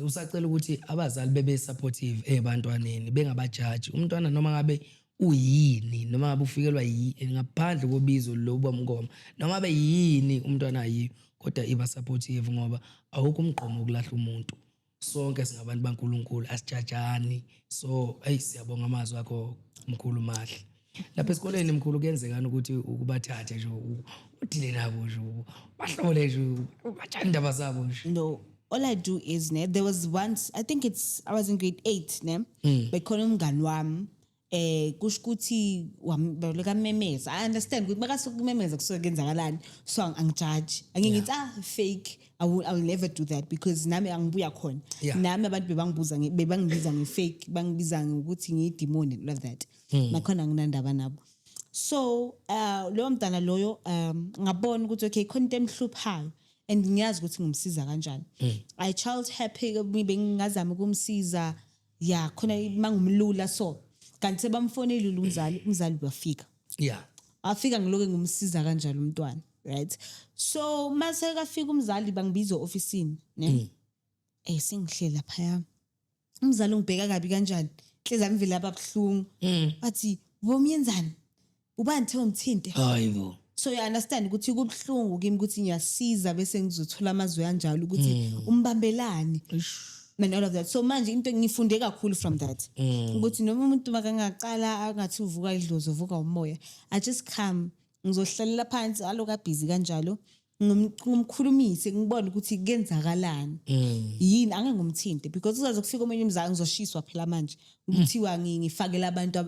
usacela ukuthi abazali bebe supportive ebantwaneni bengabajaji umntwana noma ngabe uyini noma ngabe ufikelwa yini ngaphandle kobizo lokuba mngoma noma ngabe yini umntwana ayi kodwa iba supportive ngoba awukho umgqomo ukulahla umuntu sonke singabantu baNkulunkulu asijajani so hey siyabonga amazwi akho mkhulu mahle lapha esikoleni mkhulu kuyenzekani ukuthi ukubathathe nje udile nabo nje bahlole nje batshani indaba zabo nje no all i do is ne there was once i think it's i was in grade 8 ne mm. bekhona umngani wami eh kusho ukuthi wabaleka memeza i understand ukuthi makasuka kumemeza kusuke kenzakalani so ang- angijaji angeke ngithi ah fake I will, I will never do that because nami angibuya khona Yeah. nami abantu bebangibuza nge- bebangibiza nge-fake bangibiza ngokuthi ngiyidimoni and all of that Hmm. nakhona nginandaba nabo so uh, loyo mntana loyo um ngabona ukuthi okay khona into emhluphayo and ngiyazi ukuthi ngimsiza kanjani Hmm. i child happy bengingazama ukumsiza ya khona mangumlula so kanti sebamfonelile umzali umzali wafika ya afika ngiloke ngumsiza kanjalo umntwana right so mase kafika umzali bangibiza ofisini ne mm. eh sengihlela phaya umzali ungibheka kabi kanjani hleza ngivela ababuhlungu mm. bathi bomyenzani Ubani kuthiwa umthinte? Hayi bo. so you understand ukuthi kubuhlungu kimi ukuthi ngiyasiza bese ngizothola amazwi anjalo ukuthi Hmm. umbambelani and all of that so manje into ngifunde kakhulu from that Hmm. ukuthi noma umuntu makangaqala angathi uvuka idlozi uvuka umoya i just come ngizohlalela phansi aloku abhizi kanjalo ngimkhulumise ngibone ukuthi kenzakalani mm. yini angangumthinte because kuzaze kufika omunye umzali ngizoshiswa phela manje kuthiwa ngifakela abantu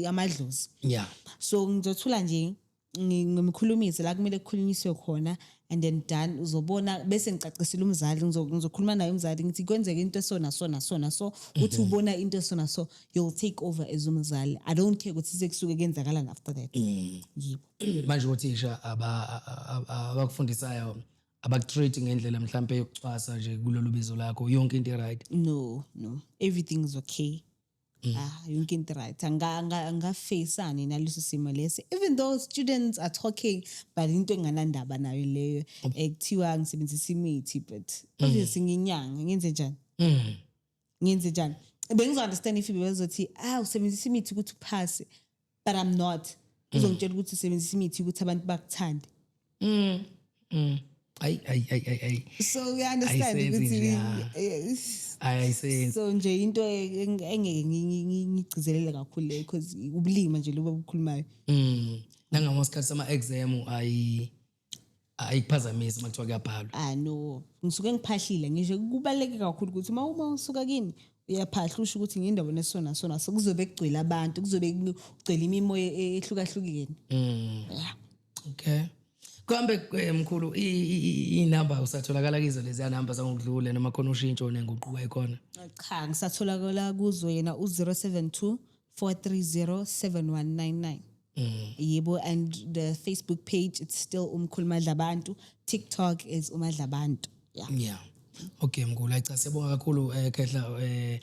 amadlozi yeah so ngizothula nje ngimkhulumise la kumele kukhulunyiswe khona and then done uzobona bese ngicacisile umzali ngizokhuluma naye umzali ngithi kwenzeka into esona sona sona so uthi mhm. ubona into esona so you'll take over as umzali i don't care ukuthi sekusuke kenzakala after that mm. yibo manje othisha abakufundisayo abakutreat ngendlela mhlawumbe yokucwasa nje kulolu bizo lakho yonke into right no no everything is okay mm. ah yonke into right angafacani naleso simo lesi even though students are talking but into enganandaba nayo leyo ekuthiwa ngisebenzisa imithi but mm. obviously nginyanga ngenze njani mm. ngenze njani bengizo-understand if bebezothi ah usebenzisa imithi ukuthi uphase but i'm not uzongitshela ukuthi usebenzisa imithi ukuthi abantu bakuthande mm. mm. Ay, ay, ay, ay, ay. So we understand ukuthi ayisenzi. So nje into engeke ngigcizelele kakhulu le because ubulima nje loba bukhulumayo. Mm. Nangama sikhathi sama exam ayi hayi kuphazamisa uma kuthiwa kuyabhalwa ah no ngisuke ngiphahlile ngisho kubaluleke kakhulu ukuthi uma uma usuka kimi uyaphahla usho ukuthi ngindawo nesona sona so kuzobe kugcwele abantu kuzobe kugcwele imimoya e- ehlukahlukene Mm. yeah okay kambe eh, mkhulu inamba usatholakala kizo leziya namba zangokudlule noma khona ushintsho nenguquko ekhona cha ngisatholakala kuzo yena u-072 4307199 mm. yebo and the facebook page it's still umkhuluma dlabantu tiktok is umadlabantu yeah yeah okay mngula cha siyabonga kakhulu eh khehla eh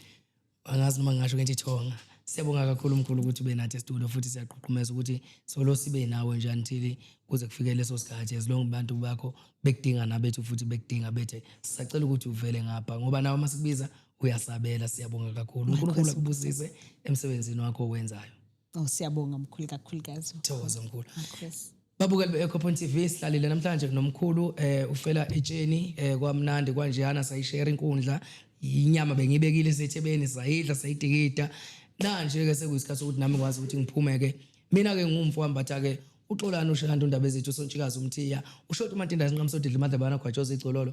angazi noma ngasho kenti thonga siyabonga kakhulu mkhulu ukuthi ube nathi estudio futhi siyaqhuqhumeza ukuthi solo sibe nawe nje until kuze kufike leso sikhathi as long abantu bakho bekudinga nabethu futhi bekudinga bethe sisacela ukuthi uvele ngapha ngoba nawe masikubiza uyasabela siyabonga kakhulu unkulunkulu akubusise emsebenzini wakho owenzayo oh siyabonga mkhulu kakhulukazi thokoza mkhulu babukeli be-ecopon t v sihlalile namhlanje kunomkhulu eh ufela etsheni eh kwamnandi kwanjeyana sayishare inkundla inyama bengibekile esethebeni sayidla sayidikida nanje-ke sekuyisikhathi sokuthi nami kwazi ukuthi ngiphume-ke mina-ke ngumfo wambatha-ke uxolani ushanti undaba ezethu usontshikazi umthiya ushoti umatinda sinqamsodidla imadlabana gwatshoza igcololo